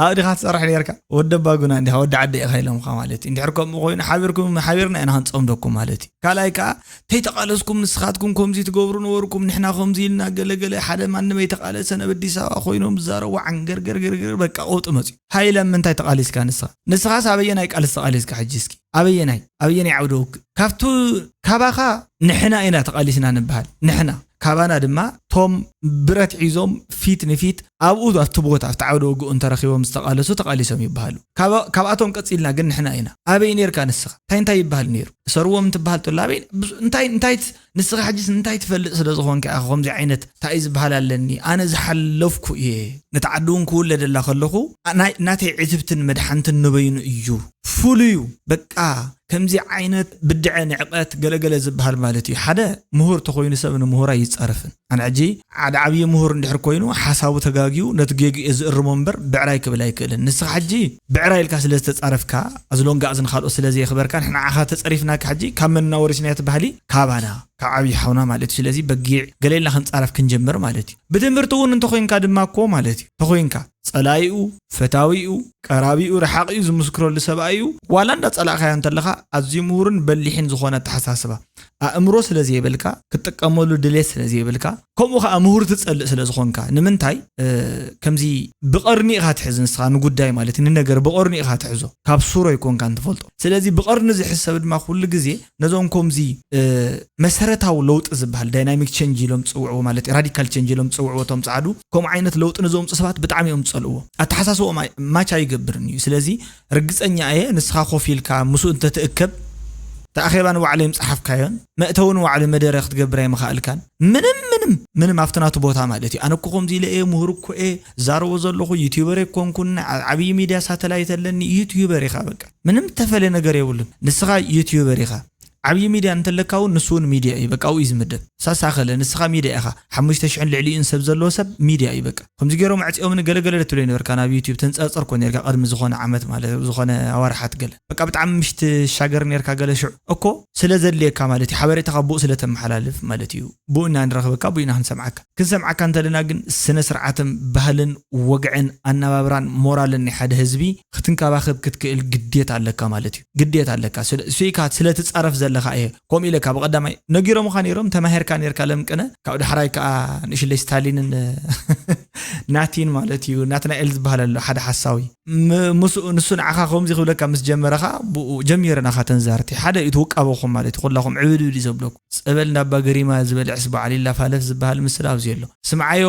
ኣብዲካ ትሰርሕ ነይርካ ወዲ ኣባጉና እንዲካ ወዲ ዓደ ኢካ ኢሎምካ ማለት እዩ እንድሕር ከምኡ ኮይኑ ሓቢርኩም ሓቢርና ኢና ክንፀምደኩም ማለት እዩ ካልኣይ ከዓ ተይተቃለስኩም ንስካትኩም ኮምዚ ትገብሩ ነበርኩም ንሕና ኮምዚ ኢልና ገለ ገለ ሓደ ማንም ኣይተቃለሰን ኣብ ኣዲስ ኣበባ ኮይኖም ዝዛረቡ ዓንገርገርገርገር በቃ ቀውጢ መጽዩ። ሃይ ለም ምንታይ ተቃሊስካ ንስካ ንስካስ ኣበየናይ ቃልሲ ተቃሊስካ ሕጂ እስኪ ኣበየናይ ኣበየናይ ዓውደ ውግእ ካብቱ ካባካ ንሕና ኢና ተቃሊስና ንብሃል ንሕና። ካባና ድማ እቶም ብረት ሒዞም ፊት ንፊት ኣብኡ ኣብቲ ቦታ ኣብቲ ዓውደ ውግእውን ተረኺቦም ዝተቓለሱ ተቓሊሶም ይበሃሉ። ካብኣቶም ቀጺልና ግን ንሕና ኢና። ኣበይ ኔርካ ንስኻ? እንታይ እንታይ ይበሃል ኔሩ? እሰርዎም እንትበሃል ተሎ ኣበይ እንታይ እንታይ ንስኻ ሕጂስ እንታይ ትፈልጥ ስለ ዝኾንካ ኢኻ ከምዚ ዓይነት ታእዩ ዝበሃል ኣለኒ ኣነ ዝሓለፍኩ እየ ነታ ዓዲውን ክውለደላ ከለኹ ናተይ ዕትብትን መድሓንትን ንበይኑ እዩ ፍሉዩ በቃ ከምዚ ዓይነት ብድዐ ንዕቀት ገለ ገለ ዝብሃል ማለት እዩ ሓደ ምሁር ተኾይኑ ሰብ ንምሁር ኣይጻረፍን ኣነ ሕጂ ሓደ ዓብዪ ምሁር እንድሕር ኮይኑ ሓሳቡ ተጋግዩ ነቲ ጌግኡ እየ ዝእርሞ እምበር ብዕራይ ክብል ኣይክእልን ንስኻ ሕጂ ብዕራይ ኢልካ ስለ ዝተጻረፍካ ኣዝሎንጋኣዝ ንኻልኦት ስለ ዘየኽበርካን ንዓኻ ተጸሪፍናካ ሕጂ ካብ መንና ወሪስናዮ እቲ ባህሊ ካባና ካብ ዓብዪ ሓውና ማለት እዩ ስለዚ በጊዕ ገለ ኢልና ክንጻረፍ ክንጀምር ማለት እዩ ብትምህርቲ እውን እንተኾይንካ ድማ እኮ ማለት እዩ ተኾይንካ ጸላኢኡ፣ ፈታዊኡ፣ ቀራቢኡ፣ ረሓቒኡ ዝምስክረሉ ሰብ'ዩ፣ ዋላ እንዳጸላእካዮ እንተለኻ ኣዝዩ ምሁርን በሊሕን ዝኾነ ኣተሓሳስባ፣ ኣእምሮ ስለ ዘይብልካ፣ ክትጥቀመሉ ድሌት ስለ ዘይብልካ፣ ከምኡ ከኣ ምሁር ትጸልእ ስለ ዝኾንካ፣ ንምንታይ ከምዚ ብቐርኒ ኢኻ ትሕዝ ንስኻ ንጉዳይ ማለት ንነገር ብቐርኑ ኢኻ ትሕዞ፣ ካብ ሱሩ ኣይኮንካን ትፈልጦ፣ ስለዚ ብቐርኒ ዝሕዝ ሰብ ድማ ኩሉ ግዜ ነዞም ኮምዚ መሰረታዊ ለውጢ ዝብሃል ዳይናሚክ ቸንጅ ኢሎም ዝጽውዕዎ ማለት እዩ ራዲካል ቸንጅ ኢሎም ዝጽውዕዎ እቶም ጻዓዱ ከምኡ ዓይነት ለውጢ ንዘምጹ ሰባት ብጣዕሚ እዮም ዝጸልእዎ ኣተሓሳስብኦም ማች ኣይገብርን እዩ ስለዚ ርግጸኛ እየ ንስኻ ኮፍ ኢልካ ምስኡ እንተትእከብ እቲ ኣኼባ ንባዕሉ ኣይምጻሓፍካዮን መእተዊ ንባዕሉ መደረ ክትገብር ኣይምኻኣልካን ምንም ምንም ምንም ኣብቲ ናቱ ቦታ ማለት እዩ ኣነ እኮ ኮምዚ ኢለ እየ ሙሁር እኮ እየ ዝዛረቦ ዘለኹ ዩትዩበር ኣይኮንኩን ኣብ ዓብይ ሚድያ ሳተላይት ኣለኒ ዩትዩበር ኢኻ በቃ ምንም እተፈልየ ነገር የብሉን ንስኻ ዩትዩበር ኢኻ ዓብይ ሚድያ እንተለካ ውን ንሱ ውን ሚድያ እዩ በቃ ኣብኡ እዩ ዝምደብ ሳሳ ኣኸለ ንስኻ ሚድያ ኢኻ ሓሙሽተ ሽሕን ልዕሊኡን ሰብ ዘለዎ ሰብ ሚድያ እዩ በቃ ከምዚ ጌሮም ኣዕጺኦምኒ ገለ ገለ ትብለይ ነበርካ ናብ ዩትዩብ ተንጸርጽር እኮ ኔርካ ቅድሚ ዝኾነ ዓመት ማለት ዝኾነ ኣዋርሓት ገለ በቃ ብጣዕሚ ምሽ ትሻገር ኔርካ ገለ ሽዑ እኮ ስለ ዘድልየካ ማለት እዩ ሓበሬታኻ ብኡ ስለ ተመሓላልፍ ማለት እዩ ብኡ ኢና ንረኽበካ ብኡ ኢና ክንሰምዓካ ክንሰምዓካ እንተለና ግን ስነ ስርዓትም ባህልን ወግዕን ኣናባብራን ሞራልን ናይ ሓደ ህዝቢ ክትንከባኸብ ክትክእል ግዴታ ኣለካ ማለት እዩ ግዴታ ኣለካ ስለ ስኢካ ስለ ትጻረፍ ዘለኻ እየ ከምኡ ኢለካ ብቀዳማይ ነጊሮምኻ ኔሮም ተማሂርካ ኔርካ ለምቅነ ካብ ዳሕራይ ከኣ ንእሽለይ ስታሊንን ናቲን ማለት እዩ ናትናኤል ዝብሃል ኣሎ ሓደ ሓሳዊ ምስኡ ንሱ ንዓኻ ከምዚ ክብለካ ምስ ጀመረ ከኣ ብኡ ጀሚረ ናኻ ተን ዛርቲ ሓደ እዩ እቲ ውቃበኹም ማለት እዩ ኩላኹም ዕብድብድ እዩ ዘብለኩም ጸበል እንዳ ኣባ ገሪማ ዝበልዕስ በዓል ይላፋለፍ ዝብሃል ምስላ ኣብዚ ኣሎ ስምዓዮ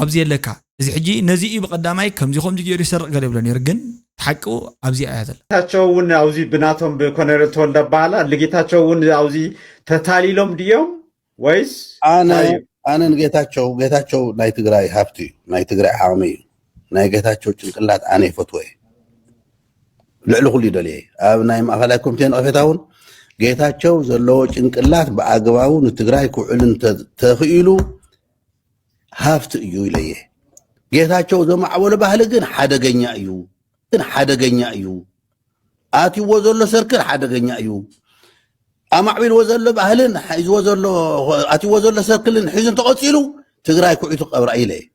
ኣብዚ የለካ እዚ ሕጂ ነዚ እዩ ብቀዳማይ ከምዚ ከምዚ ጌሩ ይሰርቅ ገለ ይብሎ ኔሩ ግን እቲ ሓቂ ኣብዚኣ እያ ዘላ። ጌታቸው እውን ኣብዚ ብናቶም ብኮነሬል ተወልደ ኣበሃላ ንጌታቸው እውን ኣብዚ ተታሊሎም ድዮም ወይስ ኣነ እንታይ እዩ? ኣነ ንጌታቸው ጌታቸው ናይ ትግራይ ሃብቲ እዩ ናይ ትግራይ ዓቕሚ እዩ ናይ ጌታቸው ጭንቅላት ኣነ ይፈትዎ እየ ልዕሊ ኩሉ ይደልየ እየ ኣብ ናይ ማእኸላይ ኮሚቴ ነቐፌታ እውን ጌታቸው ዘለዎ ጭንቅላት ብኣግባቡ ንትግራይ ክውዕል እንተ- ተኽኢሉ ሃፍቲ እዩ ኢለ እየ ጌታቸው ዘማዕበሎ ባህሊ ግን ሓደገኛ እዩ ግን ሓደገኛ እዩ ኣትይዎ ዘሎ ሰርክል ሓደገኛ እዩ ኣማዕቢልዎ ዘሎ ባህልን ሒዝዎ ዘሎ ኣትይዎ ዘሎ ሰርክልን ሒዙ እንተቐፂሉ ትግራይ ኩዒቱ ቀብራ ኢለ እየ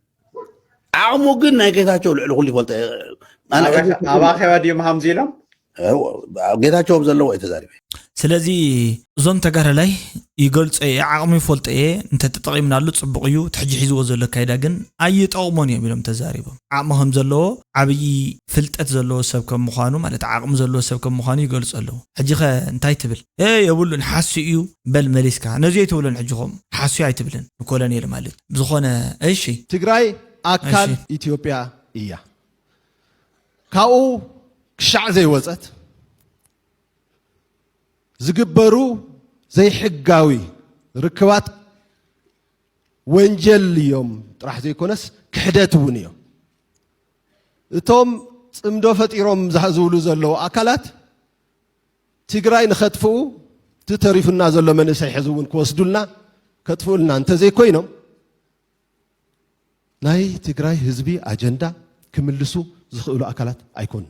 ዓቕሙ ግን ናይ ጌታቸው ልዕሊ ኩሉ ይፈልጠ ኣባኸባ ድዮም ሃምዚ ኢሎም ጌታቸው ዘለዎ እዩ ተዛሪበ ስለዚ እዞም ተጋዳላይ ይገልጾ እየ ዓቕሙ ይፈልጦ እየ እንተተጠቒምናሉ ጽቡቕ እዩ እቲ ሕጂ ሒዝዎ ዘሎ ኣካይዳ ግን ኣይጠቕሞን እዮም ኢሎም ተዛሪቦም ዓቕሚ ከም ዘለዎ ዓብዪ ፍልጠት ዘለዎ ሰብ ከም ምዃኑ ማለት ዓቕሚ ዘለዎ ሰብ ከም ምዃኑ ይገልጹ ኣለዉ ሕጂ ከ እንታይ ትብል እ የብሉን ሓሱ እዩ በል መሊስካ ነዚ ኣይትብሎን ሕጂ ከምኡ ሓሱ ኣይትብልን ንኮሎኔል ማለት ብዝኾነ እሺ ትግራይ ኣካል ኢትዮጵያ እያ ካብኡ ክሻዕ ዘይወፀት ዝግበሩ ዘይሕጋዊ ርክባት ወንጀል እዮም ጥራሕ ዘይኮነስ ክሕደት እውን እዮም። እቶም ፅምዶ ፈጢሮም ዝብሉ ዘለዉ ኣካላት ትግራይ ንኸጥፍኡ እቲ ተሪፉና ዘሎ መንእሰይ ሕዚ እውን ክወስዱልና ከጥፍኡልና እንተዘይኮይኖም ናይ ትግራይ ህዝቢ ኣጀንዳ ክምልሱ ዝኽእሉ ኣካላት ኣይኮኑን።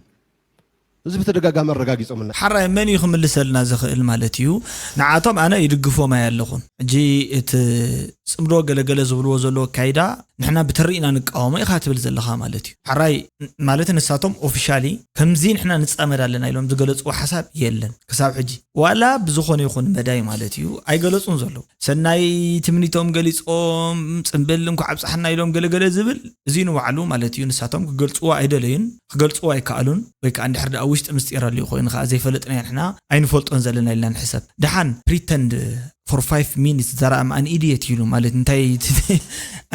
እዚ ብተደጋጋሚ ኣረጋጊፆምልና። ሐራይ መን እዩ ክምልሰልና ዝኽእል ማለት እዩ ንዓቶም ኣነ ይድግፎም ኣያለኹን ሕጂ እቲ ፅምዶ ገለ ገለ ዝብልዎ ዘለዉ ኣካይዳ ንሕና ብትሪ ኢና ንቃወሞ ኢኻ ትብል ዘለኻ ማለት እዩ ሐራይ ማለት ንሳቶም ኦፍሻሊ ከምዚ ንሕና ንፃመድ ኣለና ኢሎም ዝገለፅዎ ሓሳብ የለን ክሳብ ሕጂ ዋላ ብዝኾነ ይኹን መዳይ ማለት እዩ ኣይገለፁን ዘለዉ ሰናይ ትምኒቶም ገሊጾም ጽምብል እንኳዕ ኣብጽሓና ኢሎም ገለ ገለ ዝብል እዚ ንባዕሉ ማለት እዩ ንሳቶም ክገልጽዎ ኣይደለዩን ክገልጽዎ ኣይከኣሉን ወይ ከኣ እንድሕር ደኣ ውሽጢ ምስጢር ኣልዩ ኮይኑ ከኣ ዘይፈለጥናዮ ንሕና ኣይንፈልጦን ዘለና ኢልና ንሕሰብ ደሓን pretend for five minutes that I'm an idiot ኢሉ ማለት እንታይ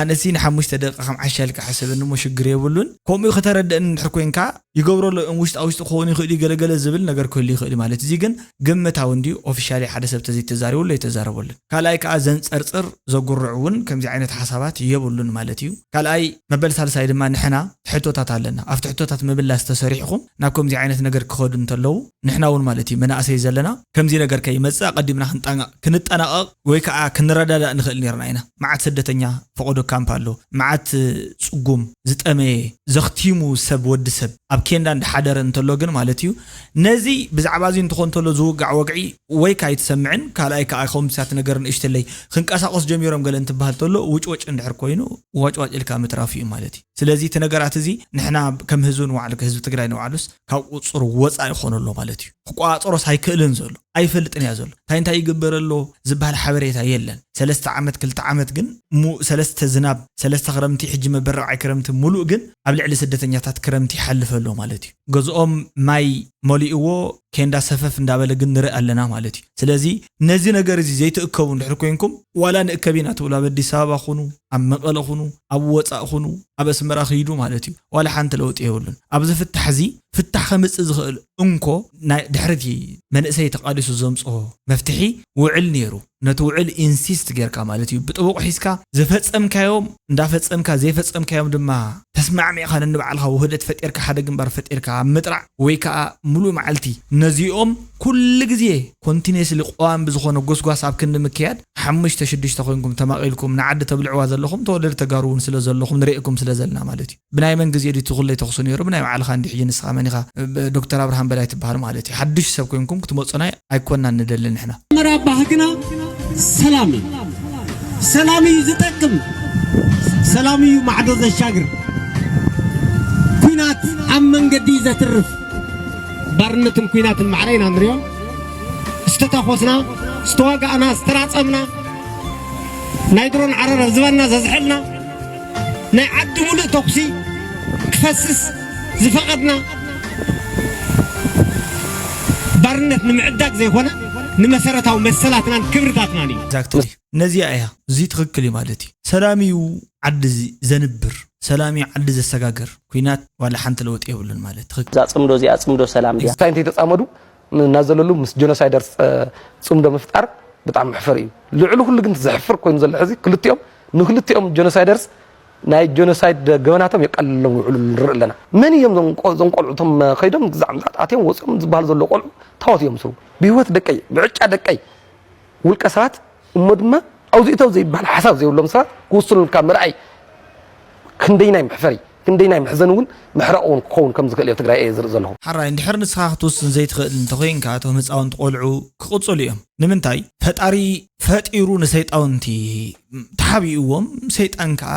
ኣነሲ ንሓሙሽተ ደቂቃ ከም ዓሻ ኢልካ ሕሰበኒ እሞ ሽግር የብሉን ከምኡ ክተረድእኒ እንድሕር ኮንካ ይገብሮ ኣሎ እም ውሽጣ ውሽጢ ክኸውን ይኽእሉ እዩ ገለ ገለ ዝብል ነገር ክህሉ ይኽእል እዩ ማለት እዚ ግን ግምታዊ እንድዩ ኦፊሻሊ ሓደ ሰብ ተዘይተዛሪበሉ ኣይተዛረበሉን ካልኣይ ከኣ ዘንጸርጽር ዘጉርዕ ውን ከምዚ ዓይነት ሓሳባት የብሉን ማለት እዩ ካልኣይ መበል ሳልሳይ ድማ ንሕና ሕቶታት ኣለና ኣብቲ ሕቶታት ምምላስ ተሰሪሕኹም ናብ ከምዚ ዓይነት ነገር ክኸዱ እንተለዉ ንሕና ውን ማለት እዩ መናእሰይ ዘለና ከምዚ ነገር ከይመጽእ ኣቀዲምና ክንጠናቀቅ ወይ ከኣ ክንረዳዳእ ንኽእል ኔርና ኢና። መዓት ስደተኛ ፈቐዶ ካምፕ ኣሎ፣ መዓት ጽጉም፣ ዝጠመየ፣ ዘኽቲሙ ሰብ ወዲ ሰብ ኣብ ኬንዳ እንዳሓደረ እንተሎ ግን ማለት ኢዩ ነዚ ብዛዕባ እዚ እንትኾን ተሎ ዝውጋዕ ወግዒ ወይካ ኣይትሰምዕን ካልኣይ ከኣ ከምዚታት ነገር ንእሽትለይ ክንቀሳቐሱ ጀሚሮም ገለ እንትበሃል ተሎ ውጭወጭ እንድሕር ኮይኑ ዋጭዋጭ ኢልካ ምትራፍ ኢዩ ማለት ኢዩ። ስለዚ እቲ ነገራት እዚ ንሕና ከም ህዝቢ ንባዕሉ ህዝቢ ትግራይ ንባዕሉስ፣ ካብ ቁፅፅሩ ወፃኢ ይኾን ኣሎ ማለት እዩ። ክቆፃፀሮስ ኣይክእልን ዘሎ ኣይፈልጥን እያ ዘሎ እንታይ እንታይ ይግበር ኣሎ ዝብሃል ሓበሬታ የለን ሰለስተ ዓመት ክልተ ዓመት ግን እሞ ሰለስተ ዝናብ ሰለስተ ክረምቲ ሕጂ መበረቕዒ ክረምቲ ሙሉእ ግን ኣብ ልዕሊ ስደተኛታት ክረምቲ ይሓልፍ ኣሎ ማለት እዩ ገዝኦም ማይ መሊእዎ ኬንዳ ሰፈፍ እንዳበለ ግን ንርኢ ኣለና ማለት እዩ ስለዚ ነዚ ነገር እዚ ዘይትእከቡ እንድሕር ኮይንኩም ዋላ ንእከብ ኢና ትብሉ ኣብ ኣዲስ ኣበባ ኩኑ ኣብ መቐለ ኩኑ ኣብ ወፃእ ኩኑ ኣብ ኣስመራ ክይዱ ማለት እዩ ዋላ ሓንቲ ለውጢ የብሉን ኣብዚ ፍታሕ እዚ ፍታሕ ከምፅእ ዝኽእል እንኮ ናይ ድሕሪ እቲ መንእሰይ ተቓሊሱ ዘምፅኦ መፍትሒ ውዕል ነይሩ ነቲ ውዕል ኢንሲስት ጌርካ ማለት እዩ ብጥቡቕ ሒዝካ ዝፈፀምካዮም እንዳፈፀምካ ዘይፈፀምካዮም ድማ ተስማዕሚዕኻ ነንባዕልኻ ውህደት ፈጢርካ ሓደ ግንባር ፈጢርካ ኣብ ምጥራዕ ወይ ከዓ ሙሉእ መዓልቲ ነዚኦም ኩሉ ግዜ ኮንቲኔስሊ ቀዋሚ ብዝኾነ ጎስጓስ ኣብ ክንዲ ምክያድ ሓሙሽተ ሽዱሽተ ኮይንኩም ተማቂልኩም ንዓዲ ተብልዕዋ ዘለኹም ተወለድቲ ተጋሩ ውን ስለ ዘለኹም ንሬእኩም ስለ ዘለና ማለት እዩ ብናይ መን ግዜ ድዩ እቲ ኩለይ ተኹሲ ኔሩ ብናይ ባዕልኻ እንድዩ ሕጂ ንስኻ መን ኢኻ ዶክተር ኣብርሃም በላይ ትብሃል ማለት እዩ ሓዱሽ ሰብ ኮይንኩም ክትመጹና ኣይኮናን ንደሊ ንሕና መጀመርያ ባህግና ሰላም እዩ ሰላም እዩ ዝጠቅም ሰላም እዩ ማዕዶ ዘሻግር ኩናት ኣብ መንገዲ እዩ ዘትርፍ ባርነትን ኩናትን ማዕረ ኢና ንሪኦም ዝተታኾስና ዝተዋጋእና ዝተራፀምና ናይ ድሮን ዓረር ዝበና ዘዝሐልና ናይ ዓዲ ሙሉእ ተኹሲ ክፈስስ ዝፈቐድና ባርነት ንምዕዳግ ዘይኮነ ንመሰረታዊ መሰላትናን ክብርታትናን እዩ። ነዚኣ እያ እዚ ትኽክል እዩ ማለት እዩ ሰላም እዩ ዓዲ ዘንብር። ሰላም ዩ ዓዲ ዘሰጋግር ኩናት ዋላ ሓንቲ ለውጢ የብሉን ማለት ትኽክል። እዛ ጽምዶ እዚኣ ጽምዶ ሰላም ድያ? እንታይ እንተይተጻመዱ ናዘለሉ ምስ ጀኖሳይደርስ ጽምዶ ምፍጣር ብጣዕሚ መሕፈሪ እዩ። ልዕሊ ኩሉ ግን ዘሕፍር ኮይኑ ዘሎ ሕዚ ክልቲኦም ንክልቲኦም ጀኖሳይደርስ ናይ ጀኖሳይድ ገበናቶም የቃልለሎም ይውዕሉ ንርኢ ኣለና። መን እዮም እዞም እዞም ቆልዑ እቶም ከይዶም ግዛዕ ምጽኣት ኣትዮም ወጺኦም ዝበሃሉ ዘለዉ ቆልዑ ታዎት እዮም ዝስርዉ ብሂወት ደቀይ ብዕጫ ደቀይ ውልቀ ሰባት እሞ ድማ ኣውዚ እተው ዘይብሃል ሓሳብ ዘይብሎም ሰባት ክውስኑልካ ምርኣይ ክንደይናይ መሕፈሪ ክንደይናይ መሕዘኒ እውን መሕረቒ እውን ክኸውን ከም ዝኽእል እዮ ትግራይ እየ ዝርኢ ዘለኹ። ሐራይ እንድሕር ንስኻ ክትውስን ዘይትኽእል እንተኾይንካ እቶም ህፃውንቲ ቆልዑ ክቅፅሉ እዮም ንምንታይ ፈጣሪ ፈጢሩ ንሰይጣውንቲ ተሓቢእዎም ሰይጣን ከዓ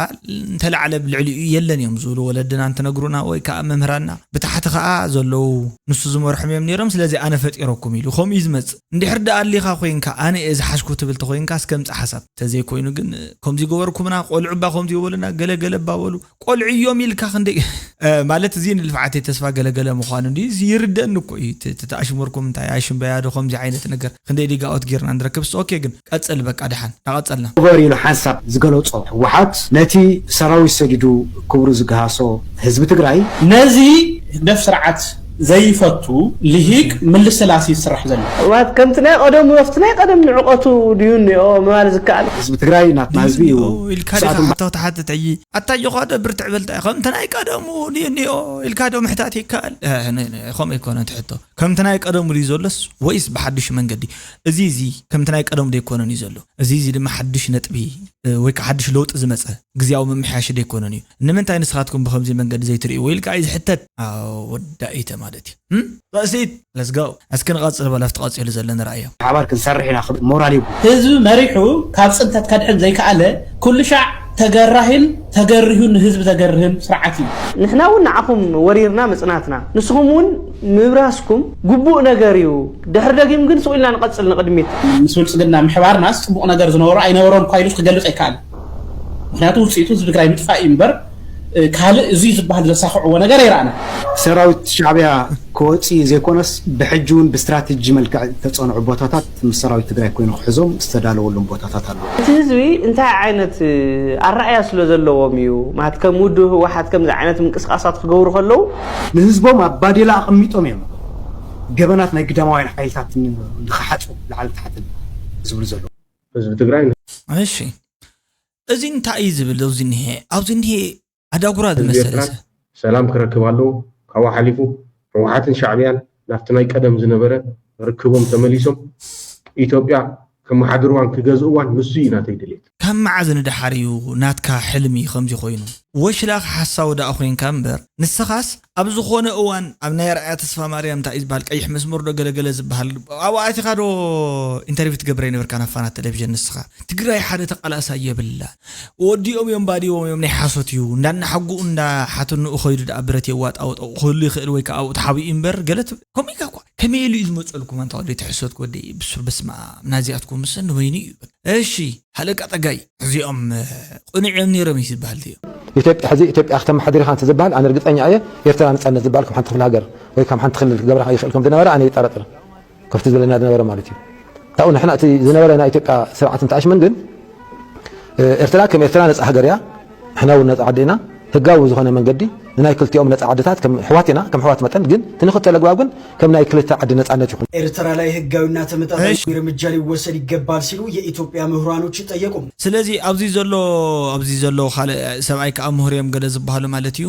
እንተላዕለ ብ ልዕሊኡ የለን እዮም ዝብሉ ወለድና እንትነግሩና ወይ ከዓ መምህራንና ብታሕቲ ከዓ ዘለዉ ንሱ ዝመርሖም እዮም ነይሮም ስለዚ ኣነ ፈጢረኩም ኢሉ ከምኡ እዩ ዝመፅእ እንድሕር ድኣ ኣሊኻ ኮይንካ ኣነ እየ ዝሓዝኩ ትብል ተኾይንካ እስከ ምጻእ ሓሳብ። ተዘይ ኮይኑ ግን ኮምዚ ገበርኩምና ቆልዑ እባ ኮምዚ ይበሉና ገለ ገለ እባ በሉ ቆልዑ እዮም ኢልካ ክንደይ ማለት እዚ ንልፍዓተይ ተስፋ ገለ ገለ ምዃኑ እንድዩ ይርደኣኒ እኮ እዩ እቲ ተኣሽሙርኩም እንታይ ኣሽምበያ ዶ ኮምዚ ዓይነት ነገር ክንደይ ዲጋኦት ጌርና ንረክብስ ኦኬ ግን ቀጽል በቃ ደሓን ዳቀጸልና። ንበር ኢሉ ሓንሳብ ዝገለጾ ህወሓት ነቲ ሰራዊት ሰዲዱ ክብሩ ዝገሃሶ ህዝቢ ትግራይ፣ ነዚ ህግደፍ ስርዓት ዘይፈቱ ሊሂቅ ምልስላስ እዩ ዝስራሕ ዘሎ። ማለት ከምቲ ናይ ቐደሙ ኣፍቲ ናይ ቐደም ንዕቀቱ ድዩ እኒኦ ምባል ዝከኣል? ህዝቢ ትግራይ ናትና ህዝቢ እዩ ድዩ እኒኦ ኢልካ ዲኻ ክሳቶም። ሕቶ ትሓትት ሕጂ? ኣታ ኣጆዃ'ዶ ብርትዕ በል ታይ ከምቲ ናይ ቀደሙ ድዩ እኒኦ ኢልካ'ዶ ምሕታት ይከኣል? እህ ን ን ኸምኡ ኣይኮነን እቲ ሕቶ ከምቲ ናይ ቀደሙ ድዩ ዘሎስ ወይስ ብሓዱሽ መንገዲ? እዚ እዚ ከምቲ ናይ ቀደሙ ደይኮነን እዩ ዘሎ። እዚ እዚ ድማ ሓዱሽ ነጥቢ ወይ ከኣ ሓዱሽ ለውጢ ዝመጸ ግዝያዊ ምምሕያሽ ደይኮነን እዩ። ንምንታይ ንስኻትኩም ብኸምዚ መንገዲ ዘይትርእይዎ ኢልካ እዩ ዝሕተት። ኣው ወዳኢተ ማለት እዩ እም ርእሲት። Let's go እስኪ ንቐጽል በሉ ኣብቲ ቀጺሉ ዘሎ ንርኣዮ። ብሓባር ክንሰርሕ ኢና ክብል ሞራል ይህቡ። ህዝቢ መሪሑ ካብ ፅንተት ከድሕን ዘይከኣለ ኩሉሻዕ ተገራሂን ተገሪሁን ንህዝቢ ዘገርህን ስርዓት እዩ። ንሕና እውን ንዓኹም ወሪርና ምፅናትና ንስኹም እውን ምብራስኩም ግቡእ ነገር እዩ። ድሕሪ ደጊም ግን ሱቕ ኢልና ንቐጽል ንቕድሚት። ምስ ብልጽግና ምሕባርናስ ጽቡቕ ነገር ዝነበሮ ኣይነበሮንኳ ኢሉስ ክገልጽ ኣይከኣልን። ምኽንያቱ ውጽኢቱ ህዝቢ ትግራይ ምጥፋእ እዩ እምበር ካልእ እዙይ ዝበሃል ዘሳኽዕዎ ነገር ኣይረኣናን። ሰራዊት ሻዕቢያ ክወጽኢ ዘይኮነስ ብሕጂ እውን ብስትራቴጂ መልክዕ ዝተጸንዑ ቦታታት ምስ ሰራዊት ትግራይ ኮይኑ ክሕዞም ዝተዳለወሎም ቦታታት ኣለዉ። እቲ ህዝቢ እንታይ ዓይነት ኣረኣእያ ስለዘለዎም እዩ ማለት ከም ውድብ ህወሓት ከምዚ ዓይነት ምንቅስቓሳት ክገብሩ ከለዉ። ንህዝቦም ኣብ ባዴላ ኣቐሚጦም እዮም። ገበናት ናይ ግዳማውያን ሓይልታት ንክሓፁ ላዕልን ታሕትን ዝብሉ ዘለዉ። ህዝቢ ትግራይ ን። እሺ እዚ እንታይ እዩ ዝብል ኣብዚ እኒሀ ኣብዚ እኒሀ ኣዳጉራ ዝመሰለ ህዝቢ ሰብ። ኤርትራ ሰላም ክረክብ ኣለዎ ካብኡ ሓሊፉ ህወሓትን ሻዕብያን ናብቲ ናይ ቀደም ዝነበረ ርክቦም ተመሊሶም ኢትዮጵያ ከመሓድርዋን ክገዝእዋን ንሱ እዩ ናተይ ድሌት። ካብ መዓዝ ንደሓር እዩ ናትካ ሕልሚ ከምዚ ኮይኑ? ወሽላኽ ሓሳዊ ደኣ ኮይንካ እምበር ንስኻስ ኣብ ዝኾነ እዋን ኣብ ናይ ኣርኣያ ተስፋማርያም እንታይ እዩ ዝበሃል ቀይሕ መስመር ዶ ገለ ገለ ዝበሃል ኣብኡ ኣቲኻ ዶ ኢንተርቪው ትገብር ኣይነበርካን ኣብ ፋና ተለቪዥን ንስኻ ትግራይ ሓደ ተቃላሳይ የብላን ወዲኦም እዮም ባዲዎም እዮም ናይ ሓሶት እዩ እንዳ እናሓጉኡ እንዳ ሓትንኡ ከይዱ ደኣ ብረት የዋጣውጦ ክህሉ ይኽእል ወይ ከዓ ኣብኡ ተሓቢኡ እምበር ገለ ከምኡ ኢልካ እኳ ከመይ ኢሉ እዩ ዝመጸልኩም ኣንታ ወደይ ትሕሰት ወደይ ብሱር በስመኣም ናዚኣትኩምሰ ንበይኑ እዩ እሺ ሃለቃ ጸጋይ እዚኦም ቁኑዕ እዮም ኔሮም እዩ ዝባሃል እዚኦም። ኢትዮጵያ ሕዚ ኢትዮጵያ ክተማሓድር ኢኻ እንተዝባሃል ኣነ ርግፀኛ እየ ኤርትራ ነፃነት ዝባሃል ከም ሓንቲ ክፍለ ሃገር ወይ ከም ሓንቲ ክልል ክገብራ ይኽእል ከም ዝነበረ ኣነ ይጠራጠር ከፍቲ ዝብለና ዝነበረ ማለት እዩ ካብኡ ንሕና እቲ ዝነበረ ናይ ኢትዮጵያ ስርዓት እንተኣሽመን ግን ኤርትራ ከም ኤርትራ ነፃ ሃገር እያ ንሕና እውን ነጻ ዓዲ ኢና፣ ህጋዊ ብዝኾነ መንገዲ ንናይ ክልቲኦም ነጻ ዓድታት ከም ኣሕዋት ኢና፣ ከም ኣሕዋት መጠን ግን እቲ ንኽተል ኣግባብ ግን ከም ናይ ክልተ ዓዲ ነጻነት ይኹን። ኤርትራ ላይ ህጋዊና ተመጣጣኝ ርምጃ ሊወሰድ ይገባል ሲሉ የኢትዮጵያ ምሁራኖች ጠየቁ። ስለዚ ኣብዚ ዘሎ ኣብዚ ዘሎ ካልእ ሰብኣይ ከኣ ምሁር እዮም ገለ ዝበሃሉ ማለት እዩ።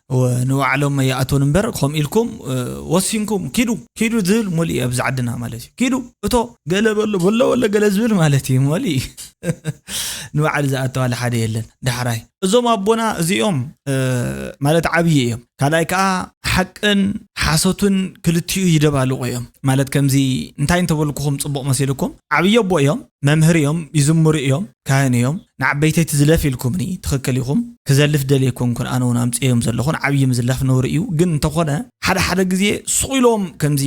ንባዕሎም ይኣትውን እምበር ከምኡ ኢልኩም ወሲንኩም ኪዱ ኪዱ ዝብል ሙሉእ እዩ ኣብዚ ዓድና ማለት እዩ ኪዱ እቶ ገለ በሎ በሎ በሎ ገለ ዝብል ማለት እዩ ሙሉእ እዩ ንባዕሉ ዝኣተዋለ ሓደ የለን ዳሕራይ እዞም ኣቦና እዚኦም ማለት ዓብዪ እዮም ካልኣይ ከዓ ሓቅን ሓሶትን ክልቲኡ ይደባልቑ እዮም ማለት ከምዚ እንታይ እንተበልኩኹም ፅቡቕ መሲልኩም ዓብዪ ኣቦ እዮም መምህር እዮም ይዝምሩ እዮም ካህን እዮም ንዓበይተይ ትዝለፍ ኢልኩምኒ ትኽክል ኢኹም ክዘልፍ ደልየ ኣይኮንኩን ኣነ ውን ኣምጽኤዮም ዘለኹ ንዓብዪ ምዝላፍ ነውሪ እዩ ግን እንተኾነ ሓደ ሓደ ግዜ ሱቕ ኢሎም ከምዚ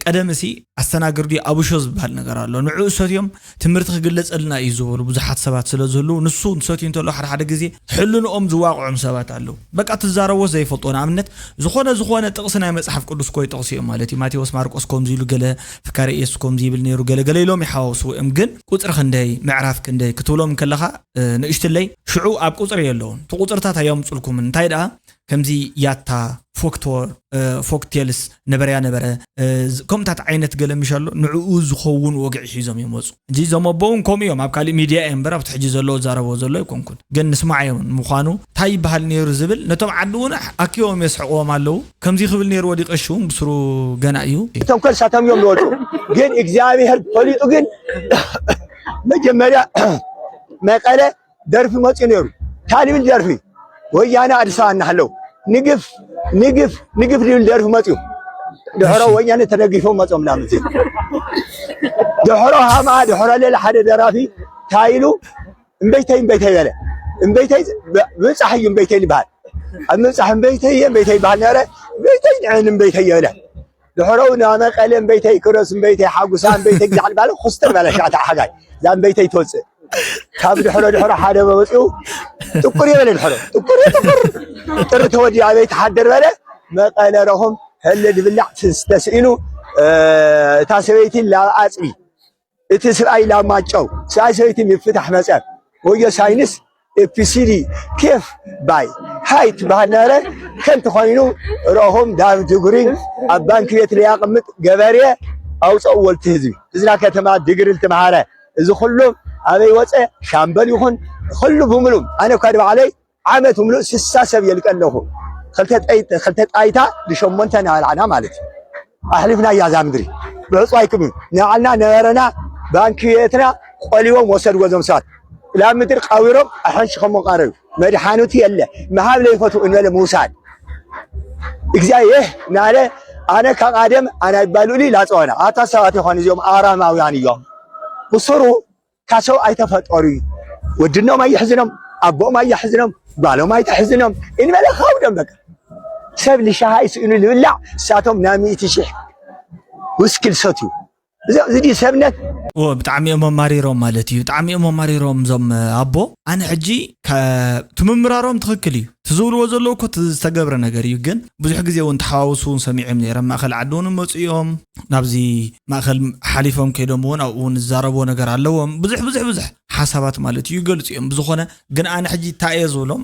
ቀደምሲ ኣስተናግርዲ ኣቡሾ ዝበሃል ነገር ኣሎ ንዕኡ ሰትዮም ትምህርቲ ክግለጸልና እዩ ዝበሉ ብዙሓት ሰባት ስለዝህልው ንሱ ሰትዩ እንተሎ ሓደ ሓደ ግዜ ሕልንኦም ዝዋቕዖም ሰባት ኣለው በቃ ትዛረቦ ዘይፈልጦ ንኣብነት ዝኾነ ዝኾነ ጥቕሲ ናይ መጽሓፍ ቅዱስ ኮይጠቕሱ እዮም ማለት እዩ ማቴዎስ ማርቆስ ከምዚ ኢሉ ገለ ኣካረ ኢየሱስ ኮምዚ ይብል ነሩ ገለ ገለ ኢሎም ይሓዋውስዎ እዮም ግን ቁጽሪ ክንደይ ምዕራፍ ክንደይ ክትብሎም እንከለኻ ንእሽትለይ ሽዑ ኣብ ቁጽሪ የለውን እቲ ቁጽርታት ኣየምጹልኩምን እንታይ ደኣ ከምዚ ያታ ፎክቶር ፎክቴልስ ነበረያ ነበረ ከምታት ዓይነት ገለ ምሽ ኣሎ ንዕኡ ዝኸውን ወግዒ ሒዞም እዮም ወጹ ሕጂ እዞም ኣቦ ውን ከምኡ እዮም ኣብ ካሊእ ሚድያ እየ እምበር ኣብቲ ሕጂ ዘሎ እዛረቦ ዘሎ ኣይኮንኩን ግን ንስማዕ እዮም ንምኳኑ ታይ ይበሃል ነይሩ ዝብል ነቶም ዓዲ ውን ኣኪቦም የስሕቅዎም ኣለው ከምዙይ ክብል ነይርዎ ድዩ ቀሺ ውን ብስሩ ገና እዩ ተንኮል ሳቶም እዮም ዝወፁ ግን እግዚኣብሔር ፈሊጡ ግን መጀመርያ መቀለ ደርፊ መፅኡ ነይሩ ታልብል ደርፊ ወያነ ኣዲስ ኣበባ እናሃለው ንግፍ ንግፍ ንግፍ ዝብል ደርፊ መፅኡ ድሕሮ ወያነ ተደጊፎም መፅኦም ናብ ምዜ ድሕሮ ሃምኣ ድሕሮ ሌላ ሓደ ደራፊ እንታይ ኢሉ እምበይተይ እምበይተይ በለ እምበይተይ ምብፃሕ እዩ እምበይተይ ዝበሃል ኣብ ምብፃሕ እምበይተይ እምበይተይ ይበሃል ነበረ እምበይተይ ንዕን እምበይተይ የብለ ድሕረኡ ናመ ቀለ እምበይተይ ክሮስ እምበይተይ ሓጉሳ እምበይተይ ግዛዕ ባለ ኩስተር ባለ ሸዓተ ሓጋይ እዛ እምበይተይ ትወፅእ ካብ ድሕሮ ድሕሮ ሓደ መመፅኡ ጥቁር የበለ ድሕሮ ጥቁር ጥቁር ጥሪ ተወዲኡ ኣበይ ትሓድር በለ መቐለ ረኹም ሕሊ ድብላዕ ትስተስኢኑ እታ ሰበይቲ ላብ ኣፅቢ እቲ ስብኣይ ላማ ጨው ስብኣይ ሰበይቲ ምፍታሕ መፀር ወዮ ሳይንስ ኤፒሲዲ ኬፍ ባይ ሃይ ትበሃል ነረ ከንቲ ኮይኑ ረኹም ዳብ ድጉሪን ኣብ ባንኪ ቤት ለያቅምጥ ገበርየ ኣውፀኡ ወልቲ ህዝቢ እዝና ከተማ ድግሪ ልትምሃረ እዚ ኩሉም ኣበይ ወፀ ሻምበል ይኹን ኩሉ ብምሉም ኣነ እኳ ድባዕለይ ዓመት ምሉእ ስሳ ሰብ የልቀ ኣለኹ ክልተ ጣይታ ንሸሞንተ ናበላዕና ማለት እዩ ኣሕሊፍናያ እዛ ምድሪ ብዕፁ ኣይክምን ንባዕልና ነበረና ባንኪ ቤትና ቆሊቦም ወሰድዎ እዞም ሰባት ላብ ምድሪ ቀቢሮም ኣሐንሽኸሞ ቀረዩ መድሓኑቲ የለ ምሃብ ለይፈቱ እንበለ ምውሳድ እግዚኣብሔር ናለ ኣነ ካብ ኣደም ኣናይባሉሊ ላፀወና ኣታ ሰባት ይኾን እዚኦም ኣራማውያን እዮም ብስሩ ካሰው ኣይተፈጠሩ እዩ ወድኖም ኣይሕዝኖም ኣቦኦም ኣያሕዝኖም ጓሎም ኣይተሕዝኖም እንበለ ከውዶም በቃ ሰብ ልሻሃ ይስእኑ ልብላዕ እሳቶም ናብ ሚእቲ ሽሕ ውስኪ ልሰትዩ እዚ ድዩ ሰብነት ብጣዕሚ እዮም ኣማሪሮም ማለት እዩ ብጣዕሚ እዮም ኣማሪሮም እዞም ኣቦ ኣነ ሕጂ ክ- ምምራሮም ትኽክል እዩ እቲ ዝብልዎ ዘለዉ እኮ እቲ ዝተገብረ ነገር እዩ ግን ብዙሕ ግዜ እውን ተሓዋውሱ እውን ሰሚዖም ነይረ ኣብ ማእኸል ዓዲ እውን መፁ እዮም ናብዚ ማእኸል ሓሊፎም ከይዶም እውን ኣብኡ እውን ዝዛረብዎ ነገር ኣለዎም ብዙሕ ብዙሕ ብዙሕ ሓሳባት ማለት እዩ ይገልፁ እዮም ብዝኾነ ግን ኣነ ሕጂ እንታይ እየ ዝብሎም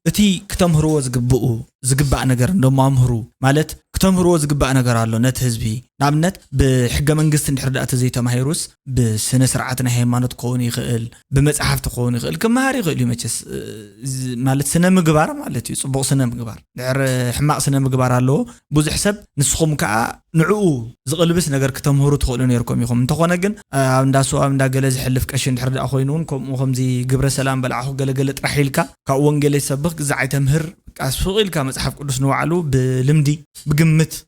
እቲ ክተምህርዎ ዝግብኡ ዝግባእ ነገር እንደሞ ኣምህሩ ማለት ክተምህርዎ ዝግባእ ነገር ኣሎ ነቲ ህዝቢ ንኣብነት ብሕገ መንግስቲ እንድሕር ዳኣ ተዘይተማሂሩስ ብስነ ስርዓት ናይ ሃይማኖት ክኸውን ይኽእል ብመጽሓፍቲ ክኸውን ይኽእል ክመሃር ይኽእል እዩ መቸስ ማለት ስነ ምግባር ማለት እዩ ጽቡቕ ስነ ምግባር ድሕር ሕማቕ ስነ ምግባር ኣለዎ ብዙሕ ሰብ ንስኹም ከዓ ንዕኡ ዝቕልብስ ነገር ክተምህሩ ትኽእሉ ነርኩም ኢኹም እንተኾነ ግን ኣብ እንዳ ስዋ ኣብ እንዳ ገለ ዝሕልፍ ቀሺ እንድሕር ደኣ ኮይኑ እውን ከምኡ ከምዚ ግብረ ሰላም በልዓኹ ገለገለ ጥራሕ ኢልካ ካብ ወንጌል ይሰብኽ ግዛዕ ኣይተምህር ቃስ ሱቕ ኢልካ መጽሓፍ ቅዱስ ንባዕሉ ብልምዲ ብግምት